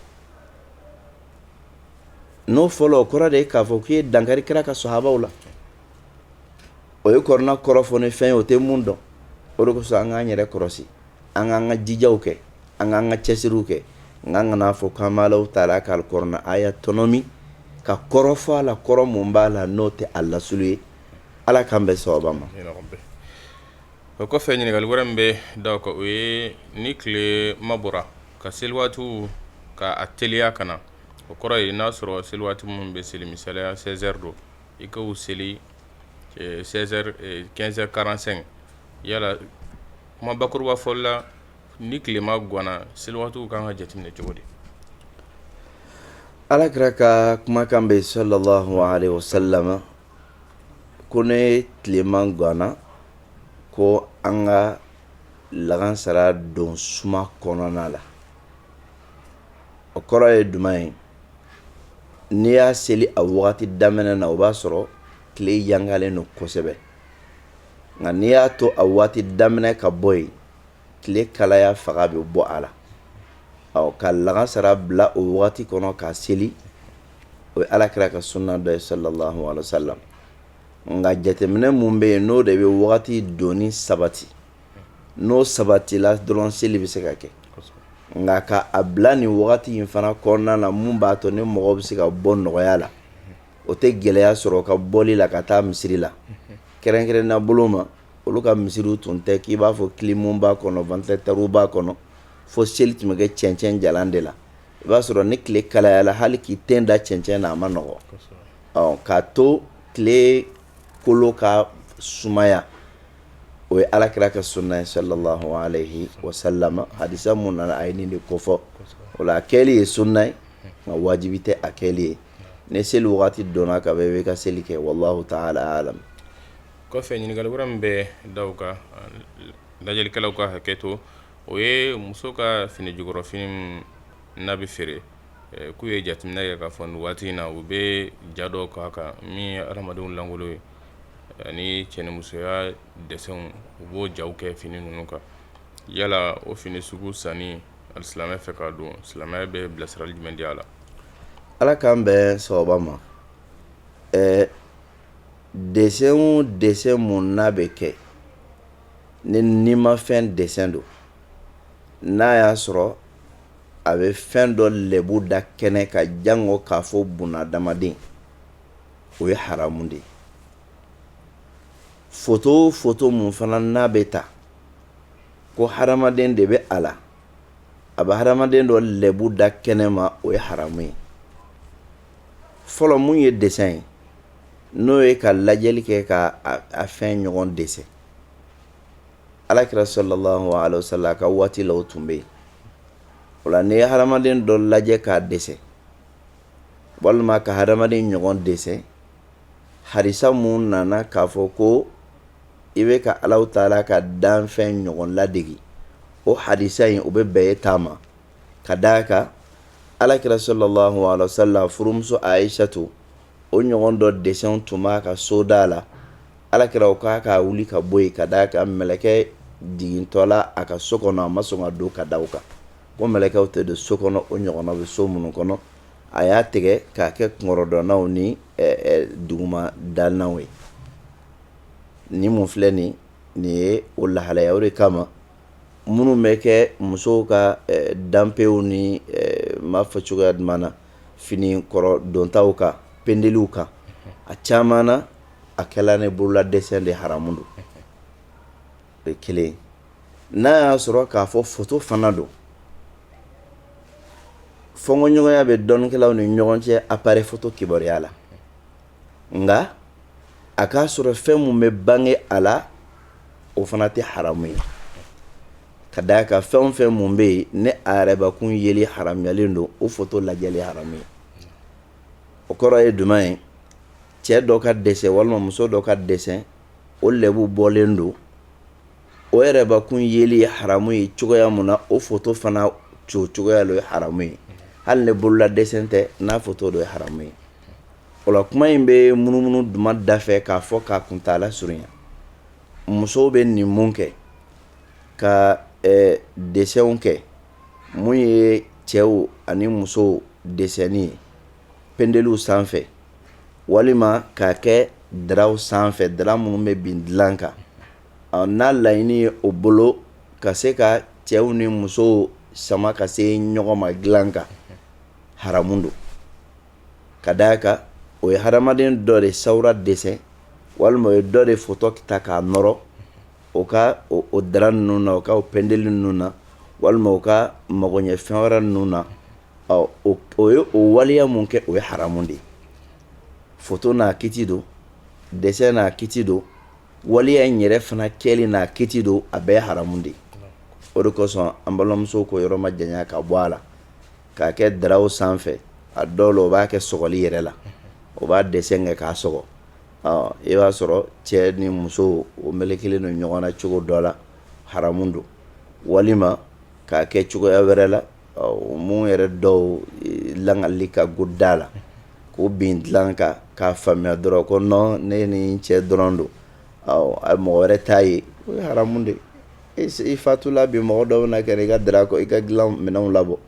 n'o fɔlɔ o kɔrɔ de ye k'a fɔ k'i ye dankari kira ka sahabaw la o ye kurana kɔrɔ fɔ ni fɛn ye o tɛ mun dɔn o de kosɔn an k'an yɛrɛ kɔlɔsi an k'an ka jijaw kɛ an k'an ka cɛsiriw kɛ nka kana a fɔ k'an b'ala taala ka kurana aya tɔnɔmi ka kɔrɔ fɔ a la kɔrɔ minnu b'a la n'o tɛ a lasili ye ala k'an bɛ sababa ma o kɔfɛ ɲininkali wɛrɛ min bɛ da kan o ye ni tilema bɔra ka seli waatiw ka a teliya ka na o kɔrɔ ye n'a sɔrɔ seli waati minnu bɛ seli misaliya 16h don i ka seli 16h 15h45 yala kuma bakuruba fɔli la ni tilema ganna seli waatiw ka kan ka jateminɛ cogo di ala kira ka kumakan bɛ salalahu alayhi wasalam ko ni tilema ganna ko an ka lagansara don suma kɔnɔna la o kɔrɔ ye jumɛn ye n'i y'a seli a waati daminɛ na o b'a sɔrɔ tile yangalen don kosɛbɛ nka n'i y'a to a waati daminɛ ka bɔ yen tile kalaya fanga bɛ bɔ a la ɔ ka lagansara bila o waati kɔnɔ k'a seli o ye ala kira ka suna dɔ ye salalahu alayhi wasalam nka jateminɛ mun bɛ yen n'o de bɛ wagati donni sabati n'o sabatila dɔrɔn seli bɛ se ka kɛ nka ka a bila nin wagati in fana kɔnɔna na min b'a to ni mɔgɔ bɛ se ka bɔ nɔgɔya la o tɛ gɛlɛya sɔrɔ ka bɔli la ka taa misiri la kɛrɛnkɛrɛnna bolo ma olu ka misiriw tun tɛ k'i b'a fɔ kilimu b'a kɔnɔ ventilateur b'a kɔnɔ fo seli tun bɛ kɛ cɛncɛn jalan de la i b'a sɔrɔ ni tile kalayala hali k'i ten da cɛncɛn na a man nɔgɔ ɔ k'a to tile kolo ka sumaya o ye alakira ka sunna ye sallallahu alaihi wasallam hadisa mun nana a ye nin de kofɔ o la a kɛli ye sunna ye nka wajibi tɛ a kɛli ye ni seli waati donna ka bɛ ka seli kɛ wallahu taala alam kɔfɛ ɲininkali wɛrɛ min bɛ da o kan lajɛlikɛlaw ka hakɛ to o ye muso ka fini jukɔrɔfini n'a bɛ feere k'u ye jateminɛ kɛ k'a fɔ waati in na u bɛ ja dɔw k'a kan min ye adamadenw lankolon ye ani cɛnimusoya desɛnw u b'o jaw kɛ fini ninnu kan yala o fini sugu sanni alisilamɛ fɛ k'a don silamɛya bɛ bilasirali jumɛn di a la ala k'an bɛn sababa ma ɛɛ desɛn o desɛn mun n'a bɛ kɛ ni nimafɛn desɛn don n'a y'a sɔrɔ a bɛ fɛn dɔ lɛbu da kɛnɛ kan jango k'a fɔ bunadamaden o ye haramu de ye foto o foto mun fana n'a bɛ ta ko hadamaden de bɛ a la a bɛ hadamaden dɔ lɛbu da kɛnɛ ma o ye haramu ye fɔlɔ mun ye desɛn ye n'o ye ka lajɛli kɛ ka a fɛn ɲɔgɔn desɛn alakira sallallahu alaihi wasallam ka waati la o tun bɛ yen o la n'i ye hadamaden dɔ lajɛ k'a desɛn walima ka hadamaden ɲɔgɔn desɛn hadisa mun nana k'a fɔ ko i bɛ ka alahu taala ka danfɛn ɲɔgɔn ladege o hadisa in o bɛ bɛn e ta ma ka d'a kan alakira sallallahu alaihi wasallam furumuso ayisatu o ɲɔgɔn dɔ desɛn tun b'a ka soda la alakira o k'a ka wuli ka bɔ yen ka d'a kan mɛlɛkɛ jigintɔ la a ka so kɔnɔ a ma sɔn ka don ka da kan ko mɛlɛkɛw tɛ don so kɔnɔ o ɲɔgɔn bɛ so minnu kɔnɔ a y'a tigɛ k'a kɛ kunkɔrɔdonnaw ni duguma dalanw ye ni mun filɛ nin nin ye o lahalaya o de kama minnu bɛ kɛ musow ka danpew ni ma fɔ cogoya na fini kɔrɔ dontaw kan pendeliw kan a caman na a kɛra ni bolola desɛn de haramu don o ye kelen n'a y'a sɔrɔ k'a fɔ foto fana don fɔnkɔɲɔgɔnya bɛ dɔnnikɛlaw ni ɲɔgɔn cɛ apareyi foto kibaruya la nka a k'a sɔrɔ fɛn mun bɛ bange a la o fana tɛ haramu ye Ka da a kan fɛn o fɛn min bɛ yen ni a yɛrɛbakun yeli haramuyalen don o foto lajɛli haramu ye o kɔrɔ ye jumɛn ye cɛ dɔ ka desɛn walima muso dɔ ka desɛn o lebu bɔlen don o yɛrɛbakun yeli ye haramu ye cogoya min na o foto fana cogo cogoya ye haramu ye hali ni bolola desɛn tɛ n'a foto don ye haramu ye o la kuma in bɛ munumunu jumɛn dafɛ k'a fɔ k'a kuntaala surunya musow bɛ nin kɛ ka desɛnw kɛ min ye cɛw ani musow desɛnni ye pendeliw sanfɛ walima k'a kɛ daraw sanfɛ dara minnu bɛ bin dilan kan ɔ n'a laɲini ye o bolo ka se ka cɛw ni musow sama ka se ɲɔgɔn ma dilan kan haramu don ka da a kan o ye hadamaden dɔ de sawura desɛn walima o ye dɔ de foto ta k'a nɔrɔ o ka o dara ninnu na o ka o pendeli ninnu na walima u ka magoɲɛfɛn wɛrɛ ninnu na o ye o waleya min kɛ o ye haramu de ye foto n'a kiiti don desɛn n'a kiiti don waleya in yɛrɛ fana kɛli n'a kiiti don a bɛɛ ye haramu de ye o de kosɔn an balimamusow k'o yɔrɔ majanya ka bɔ a la k'a kɛ daraw sanfɛ a dɔw la o b'a kɛ sɔgɔli yɛrɛ la o b'a desɛn kɛ k'a sɔgɔ I b'a sɔrɔ cɛ ni muso o melekelen don ɲɔgɔn na cogo dɔ la haramu don walima k'a kɛ cogoya wɛrɛ la min yɛrɛ dɔw lakali ka go da la k'o bin dilan kan k'a faamuya dɔrɔn ko nɔn ne ni cɛ dɔrɔn don a mɔgɔ wɛrɛ t'a ye o ye haramu de ye i fatula bi mɔgɔ dɔw na kɛ i ka dara kɔ i ka dilan minɛnw labɔ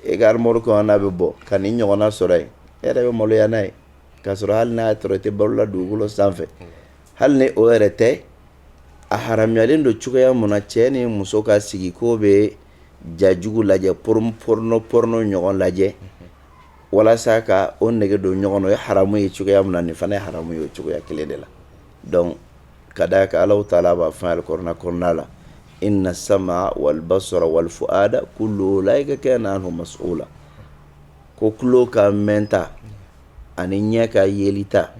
i ka armoire kɔnɔ n'a bɛ bɔ ka nin ɲɔgɔnna sɔrɔ yen e yɛrɛ bɛ maloya n'a ye K'a sɔrɔ hali n'a y'a sɔrɔ i tɛ balo la dugukolo sanfɛ, hali ni o yɛrɛ tɛ, a haramuyalen don cogoya min na, cɛ ni muso ka sigi k'o bɛ ja jugu lajɛ, porno ɲɔgɔn lajɛ, walasa ka o nege don ɲɔgɔn na, o ye haramu ye cogoya min na, nin fana ye haramu ye o cogoya kelen de la donc ka d'a kan Allahou taala b'a fɔ an ye alikuranɛ kɔnɔna la ko tulo ka mɛnta ani ɲɛ ka yelita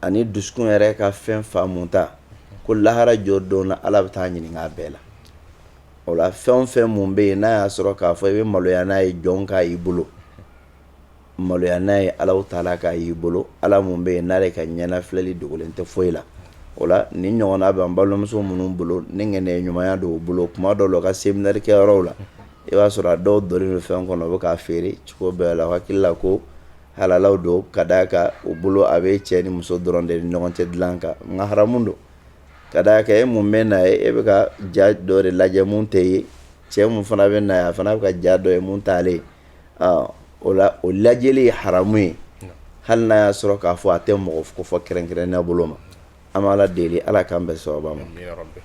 ani dusukun yɛrɛ ka fɛn faamuta ko lahara jɔ don na ala bɛ taa ɲininka a bɛɛ la o la fɛn o fɛn min bɛ yen n'a y'a sɔrɔ k'a fɔ i bɛ maloya n'a ye jɔn k'a y'i bolo maloya n'a ye ala taala k'a y'i bolo ala min bɛ yen n'ale ka ɲɛ filɛli dogolen tɛ foyi la o la nin ɲɔgɔn bɛ an balimamuso minnu bolo ni ŋaniya ɲumanya don u bolo kuma dɔw la u ka seminɛrikɛyɔrɔ la i b'a sɔrɔ a dɔw donnen don fɛn kɔnɔ u bɛ k'a feere cogo bɛɛ la u hakili la ko halala don ka d'a kan u bolo a bɛ cɛ ni muso dɔrɔn de ni ɲɔgɔn cɛ dilan kan nka haramu don ka d'a kan e mun bɛ na ye e bɛ ka ja dɔ de lajɛ min t'e ye cɛ min fana bɛ na ye a fana bɛ ka ja dɔ ye min t'ale ye o la o lajɛli ye haramu ye hali n'a y'a sɔrɔ k'a fɔ a tɛ mɔgɔ kofɔ kɛrɛnkɛrɛn' bolo ma An bɛ Ala deli Ala k'an bɛn sababa ma. Amina yarabi.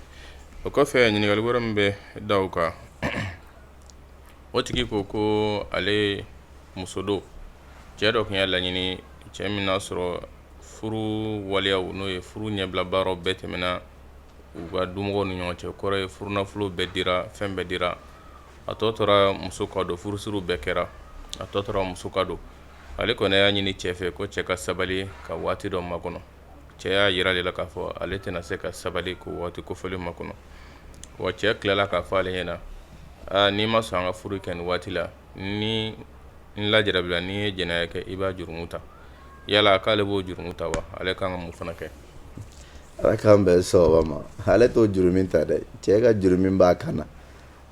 O kɔfɛ ɲininkali wɛrɛ min bɛ da o kan, o tigi ko ko ale muso don, cɛ dɔ tun y'a laɲini, cɛ min n'a sɔrɔ furu waleyaw n'o ye furu ɲɛbila baaraw bɛɛ tɛmɛna u ka dumɔgɔw ni ɲɔgɔn cɛ, o kɔrɔ ye furunafolow bɛɛ dira, fɛn bɛɛ dira, a tɔ tora muso ka don, furusiriw bɛɛ kɛra, a tɔ tora muso ka don. Ale kɔni y'a ɲini cɛ fɛ ko cɛ ka sabali ka waati dɔ makɔnɔ. cɛ y'a jira ale la k'a fɔ ale tɛna se ka sabali k'o waati kofɔlen makɔnɔ wa cɛ tilala k'a fɔ ale ɲɛna aa n'i ma sɔn an ka furu kɛ nin waati la ni n lajarabila n'i ye jɛnɛya kɛ i b'a jurumu ta yala k'ale b'o jurumu ta wa ale kan ka mun fana kɛ ala k'an bɛn sababa ma ale t'o jurumin ta dɛ cɛ ka jurumin b'a kan na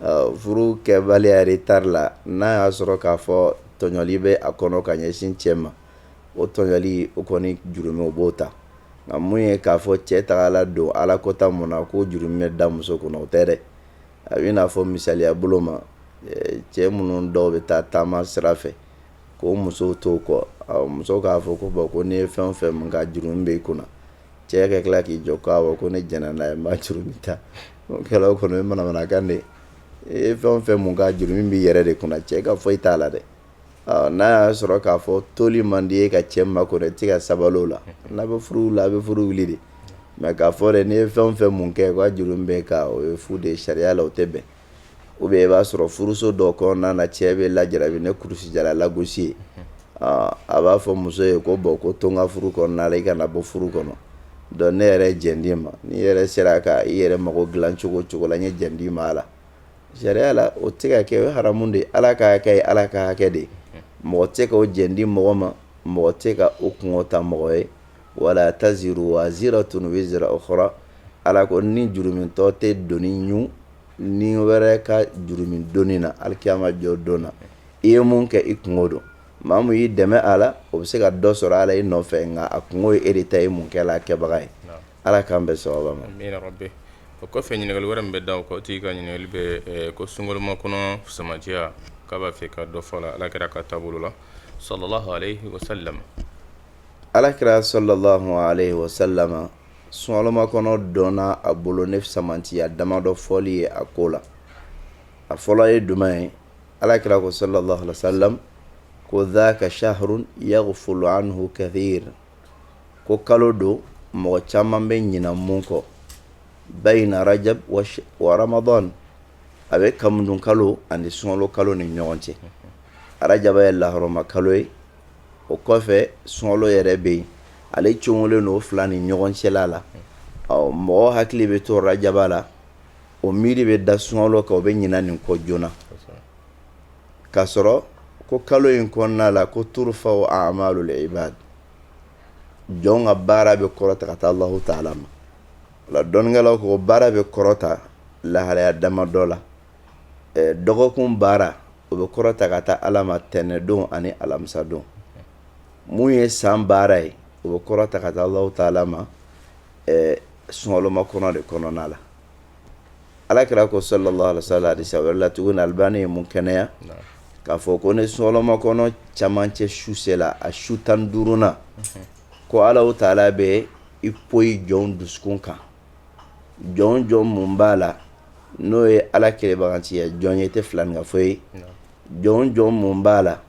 Ɔ, furu kɛbaliya retard la n'a y'a sɔrɔ k'a fɔ tɔɲɔli bɛ a kɔnɔ ka ɲɛsin cɛ ma o tɔɲɔli o kɔni jurumi o b'o ta nka mun ye k'a fɔ cɛ tagala don ala kota mun na k'o jurumi bɛ da muso kunna o tɛ dɛ a bɛ n'a fɔ misaliya bolo ma cɛ minnu dɔw bɛ taa taama sira fɛ k'u muso to kɔ muso k'a fɔ ko bɔn ko ne ye fɛn o fɛn min k'a jurumi bɛ i kunna cɛ ka tila k'i jɔ ko awɔ ko ne jɛnna n'a ye n b'a jurumi ta o kɛla o kɔni o ye manamanakan de ye e fɛn o fɛn mun k'a jurumi b'i yɛrɛ de kunna cɛ ka foyi t'a la dɛ N'a y'a sɔrɔ k'a fɔ toli man di i ye ka cɛ makɔnɔ i tɛ ka sabali o la n'a bɛ furu la a bɛ furu wuli de mais k'a fɔ dɛ n'i ye fɛn o fɛn mun kɛ k'a jurumi b'a kan o ye fu de ye sariya la o tɛ bɛn ou bien i b'a sɔrɔ furuso dɔ kɔnɔna na cɛ bɛ lajarabi ni kurusi jala lagosi ye a b'a fɔ muso ye ko bɔn ko to n ka furu kɔnɔna i kana bɔ furu kɔnɔ donc ne yɛrɛ ye jɛn d'i ma n'i yɛrɛ sera ka i yɛrɛ mago dilan cogo o cogo la n ye jɛn d'i ma a la Sariya la o tɛ ka kɛ o ye haramu de ye Ala ka hakɛ ye Ala ka hakɛ de ye mɔgɔ tɛ se ka o jɛn di mɔgɔ ma mɔgɔ tɛ se ka o kunko ta mɔgɔ ye wa laa taziru waaziratun wizra ukhra Ala ko ni jurumitɔ tɛ doni ɲun ni wɛrɛ ka jurumi doni na alikiyama jɔdon na i ye mun kɛ i kunko don maa min y'i dɛmɛ a la o bɛ se ka dɔ sɔrɔ a la i nɔfɛ nka a kunko ye e de ta ye i mun kɛla a kɛbaga ye. Ala k'an bɛɛ sababa ma min bɛ o kɔfɛ ɲininkakali wɛrɛ bɛ da ko tigi ka ɲininkali bɛ ko sunkolonlima kɔnɔ samatiya k'a b'a fɛ ka dɔ fɔ la ala kɛra ka taabolo la sɔrɔla sala ala kɛra sɔla h sala sunma kɔnɔ dɔn a bolo ne samatiya dama dɔ fɔli ye a ko la a fɔlɔ ye don ye ala kɛra ko sala sa ko d'a ka sa ha ya fɔlɔ an kɛfɛ ko kalo don mɔgɔ caman bɛ ɲina mun kɔ bayna rajab wa ramadan a bɛ kamudun kalo ani sunlo kalo ni ɲɔgɔn cɛ arajaba ye lahɔrɔma kalo ye o kɔfɛ sunlo yɛrɛ bɛ yen ale cogolen o fila ni ɲɔgɔn cɛla la ɔ mɔgɔ hakili bɛ to rajaba la o miiri bɛ da sunlo kan o bɛ ɲina nin kɔ joona k'a sɔrɔ ko kalo in kɔnɔna la ko turfa'u a'maalul ibaad jɔnw ka baara bɛ kɔrɔta ka taa Alahu taala ma o la dɔnnikɛlaw ko baara bɛ kɔrɔta lahalaya damadɔ la eh, dɔgɔkun baara o bɛ kɔrɔta ka taa Ala ma tɛnɛdon ani alamisadon mun ye san baara ye o bɛ kɔrɔta ka taa Alahu taala ma eh, sunkalo makɔnɔ de kɔnɔna la alakira ko sallallahu alayhi wa sallam hadisa wɛrɛ la tuguni Albani ye mun kɛnɛya k'a fɔ ko ni sunlo makɔnɔ camancɛ su sela a su tan ni duurunan ko Alahu taala bɛ i poyi jɔn dusukun kan jɔn jɔn mun b'a la n'o ye ala kelenbagatiya jɔn ye tɛ filaninkafo ye jɔn jɔn mun b'a la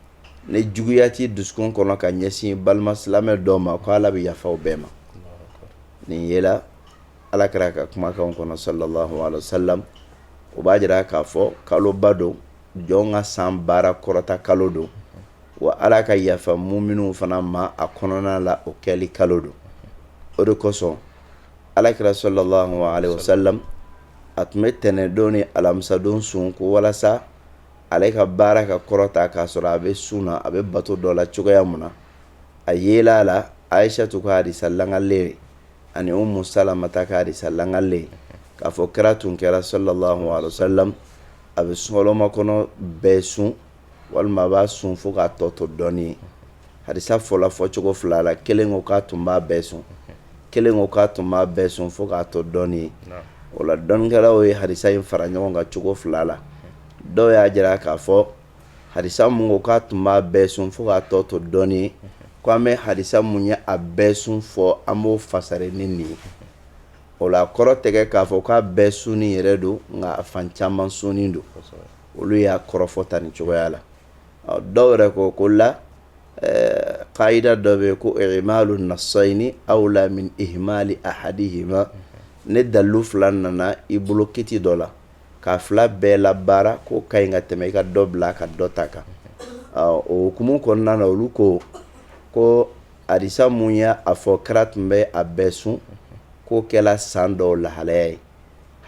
nijuguya t'i dusukun kɔnɔ ka ɲɛsin balima silamɛ dɔ ma k ko ala bɛ yafa o bɛɛ ma nin yela Alakira ka kumakan kɔnɔ sallallahu alayhi wa sallam o b'a jira k'a fɔ kaloba don jɔn ka san baara kɔrɔta kalo don wa ala ka yafa muminun fana ma a kɔnɔna la o kɛli kalo don o de kosɔn Alakira sallallahu alayhi wa sallam a tun bɛ tɛnɛndon ni alamisadon sun ko walasa ale ka baara ka kɔrɔta k'a sɔrɔ a bɛ sun na a bɛ bato dɔ la cogoya min na a yela a la Ayisatu ka hadisa lagalen ani Umu Salamata ka hadisa lagalen k'a fɔ kira tun kɛra sallallahu alayhi wa sallam a bɛ sunlo makɔnɔ bɛɛ sun walima a b'a sun fo k'a tɔ to dɔɔnin ye hadisa fɔla fɔcogo fila la kelen ko k'a tun b'a bɛɛ sun kelen ko k'a tun b'a bɛɛ sun fo k'a tɔ dɔɔnin ye o la dɔnnikɛlaw ye hadisa in fara ɲɔgɔn kan cogo fila la dɔw y'a jira k'a fɔ hadisa mun ko k'a tun b'a bɛɛ sun fo k'a tɔ to dɔɔnin ko an bɛ hadisa mun ye a bɛɛ sun fɔ an b'o fasari ni nin ye o la kɔrɔ tɛ kɛ k'a fɔ k'a bɛɛ sunni yɛrɛ don nka a fan caman sunni don olu y'a kɔrɔfɔ ta nin cogoya la dɔw yɛrɛ ko ko la kaida dɔ bɛ yen ko i'malu nasayni awla min ihmali ahadihima ni dalu fila nana i bolo kiti dɔ la k'a fila bɛɛ la baara k'o ka ɲi ka tɛmɛ i ka dɔ bila ka dɔ ta kan o hukumu kɔnɔna na olu ko ko hadisa mun ye a fɔ kira tun bɛ a bɛɛ sun k'o kɛra san dɔw lahalaya ye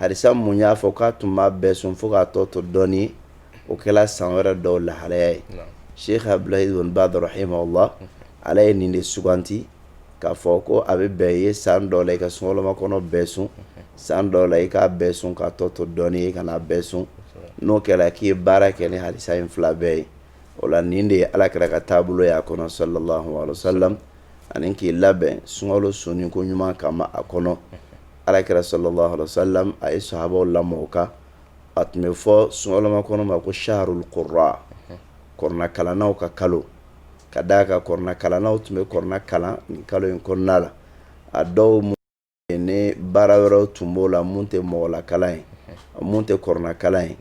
hadisa mun y'a fɔ k'a tun b'a bɛɛ sun fo k'a tɔ to dɔɔnin o kɛra san wɛrɛ dɔw lahalaya ye Sɛki Abdulahi bun Bazi rahimahulahu ale ye nin de suganti k'a fɔ ko a bɛ bɛn ye san dɔ la i ka sunkalomakɔnɔ bɛɛ sun san dɔ la i k'a bɛɛ sun k'a tɔ to dɔɔnin i kan'a bɛɛ sun n'o kɛra k'i ye baara kɛ ni hadisa in fila bɛɛ ye o la nin de ye Alakira ka taabolo y'a kɔnɔ salalahu alehi wasalamu ani k'i labɛn sunkalo sunni ko ɲuman kama a kɔnɔ Alakira salalahu alehi wasalamu a ye sahabaw lamɔ a kan a tun bɛ fɔ sunkalomakɔnɔ ma ko sahrul kurra kuranɛkalannaw ka kalo ka d'a kan kuranɛkalannaw tun bɛ kuranɛ kalan nin kalo in kɔnɔna la a dɔw ni baara wɛrɛ tun b'o la minnu tɛ mɔgɔlakalan ye minnu tɛ kuranɛkalan ye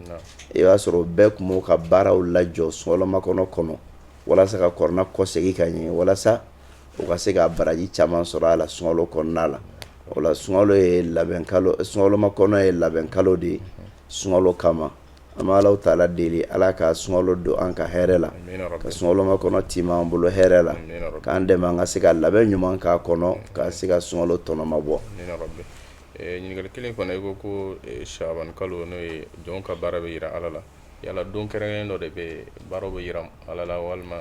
i b'a sɔrɔ bɛɛ tun b'o ka baaraw lajɔ sunkalomakɔnɔ kɔnɔ walasa ka kuranɛ kɔsegin ka ɲɛ walasa u ka se ka baraji caman sɔrɔ a la sunkalo kɔnɔna la o sunkalo ye labɛn sunkalomakɔnɔ ye labɛn kalo de ye sunkalo kama An bɛ Alahu taala deli Ala ka sunkalo don an ka hɛrɛ la, amina yarabi, ka sunkalomakɔnɔ tiimɛ an bolo hɛrɛ la, amina yarabi, k'an dɛmɛ an ka se ka labɛn ɲuman k'a kɔnɔ ka se ka sunkalo tɔnɔ mabɔ, amina yarabi, ɛ ɲininkali kelen fana i ko ko siyabani kalo n'o ye jɔnw ka baara bɛ jira Ala la yala don kɛrɛnkɛrɛnnen dɔ de bɛ yen baaraw bɛ jira Ala la walima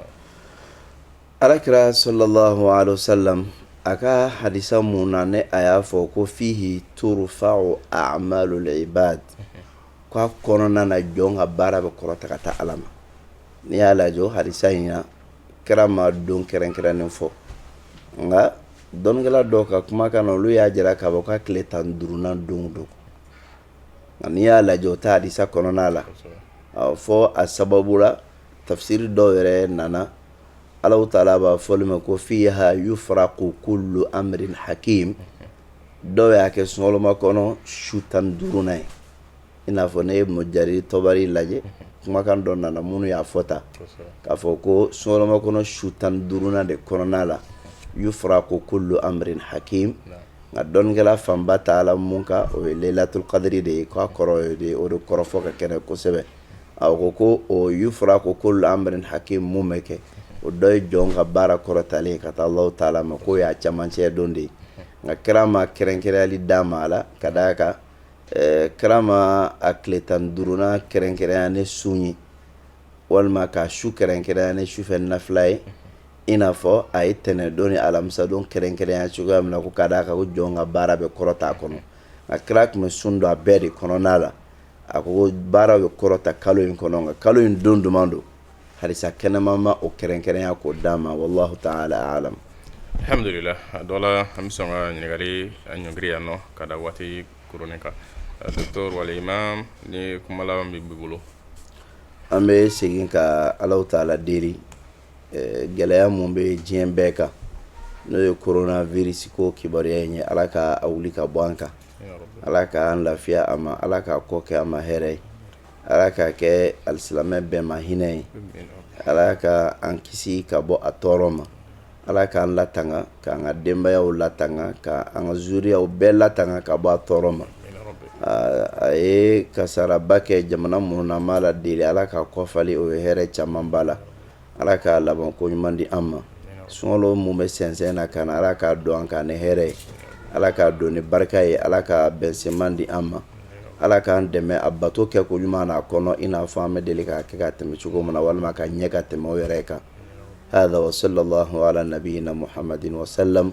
Alakira sɔlɔlahu alehi wasalamu a ka hadisa minnu na ni a y'a fɔ ko fihi turufau aamaalul ibaadi k'a kɔnɔna na jɔn ka baara bɛ kɔrɔta ka taa Ala ma n'i y'a lajɛ o hadisa in na kira ma don kɛrɛnkɛrɛnnen fɔ nka dɔnnikɛla dɔw ka kumakan na olu y'a jira k'a fɔ k'a tile tan ni duurunan don don nka n'i y'a lajɛ o t'a hadisa kɔnɔna la fɔ a sababu la tafsiri dɔw yɛrɛ nana Alahu taala b'a fɔli ma ko fiiha yufaraku kullu amrin hakiim dɔw y'a kɛ sunkalomakɔnɔ su tan ni duurunnan ye i n'a fɔ ne ye Ibun Jariri Tɔbari lajɛ kumakan dɔ nana minnu y'a fɔ ta k'a fɔ ko sunkalomakɔnɔ su tan ni duurunnan de kɔnɔna la yufaraku kullu amrin hakiim nka dɔnnikɛla fanba taala min kan o ye layilatul kadiri de ye k'a kɔrɔ ye o de kɔrɔfɔ ka kɛnɛ kosɛbɛ a ko ko yufraqu kullu amrin hakim mun bɛ kɛ o dɔ ye jɔn ka baara kɔrɔtalen ka taa allahu taala ma k'o y'a camancɛ don de ye nka kira ma kɛrɛnkɛrɛnyali d'a ma a la ka da a kan kira ma a tile tan ni duurunan kɛrɛnkɛrɛnya ni sun ye walima k'a su kɛrɛnkɛrɛnya ni sufɛ nafila ye i n'a fɔ a ye tɛnɛndon ni alamisadon kɛrɛnkɛrɛnya cogoya min na ko ka d'a kan jɔn ka baara bɛ kɔrɔta a kɔnɔ nka kira tun bɛ sun don a bɛɛ de kɔnɔna la a ko baara bɛ kɔrɔta kalo in kɔnɔ nka kalo in don duman don hadisa kɛnɛman ma o kɛrɛnkɛrɛnya k'o d'a ma wallahu taala alamu alhamdulilah a dɔ la an bɛ sɔn ka ɲininkali ɲɔngiri yan nɔ ka da waati kurunin kan docteur wal imam ni kuma laban b'i bolo an bɛ segin ka allahu taala deli gɛlɛya mun bɛ diɲɛ bɛɛ kan n'o ye coronavirus ko kibaruya in ye ala k'a wuli ka bɔ an kan ala k'an lafiya a ma ala k'a kɔ kɛ an ma hɛrɛ ye ala k'a kɛ alisilamɛ bɛɛ ma hinɛ ye ala ka an kisi ka bɔ a tɔɔrɔ ma ala k'an latanga k'an ka denbayaw latanga ka an ka zuriyaw bɛɛ latanga ka bɔ a tɔɔrɔ ma a ye kasaraba kɛ jamana minnu na n b'ala deli ala ka kɔfali o ye hɛrɛ caman ba la ala k'a laban ko ɲuman di an ma sunkalo mun bɛ sɛnsɛn na ka na ala k'a don an kan ni hɛrɛ ye ala k'a don ni barika ye ala ka bɛnsenman di an ma ala k'an dɛmɛ a bato kɛ ko ɲuman na a kɔnɔ i n'a fɔ an bɛ deli k'a kɛ ka tɛmɛ cogo min na walima ka ɲɛ ka tɛmɛ o yɛrɛ kan hada wa sallallahu ala nabiyina muhamadin wa salam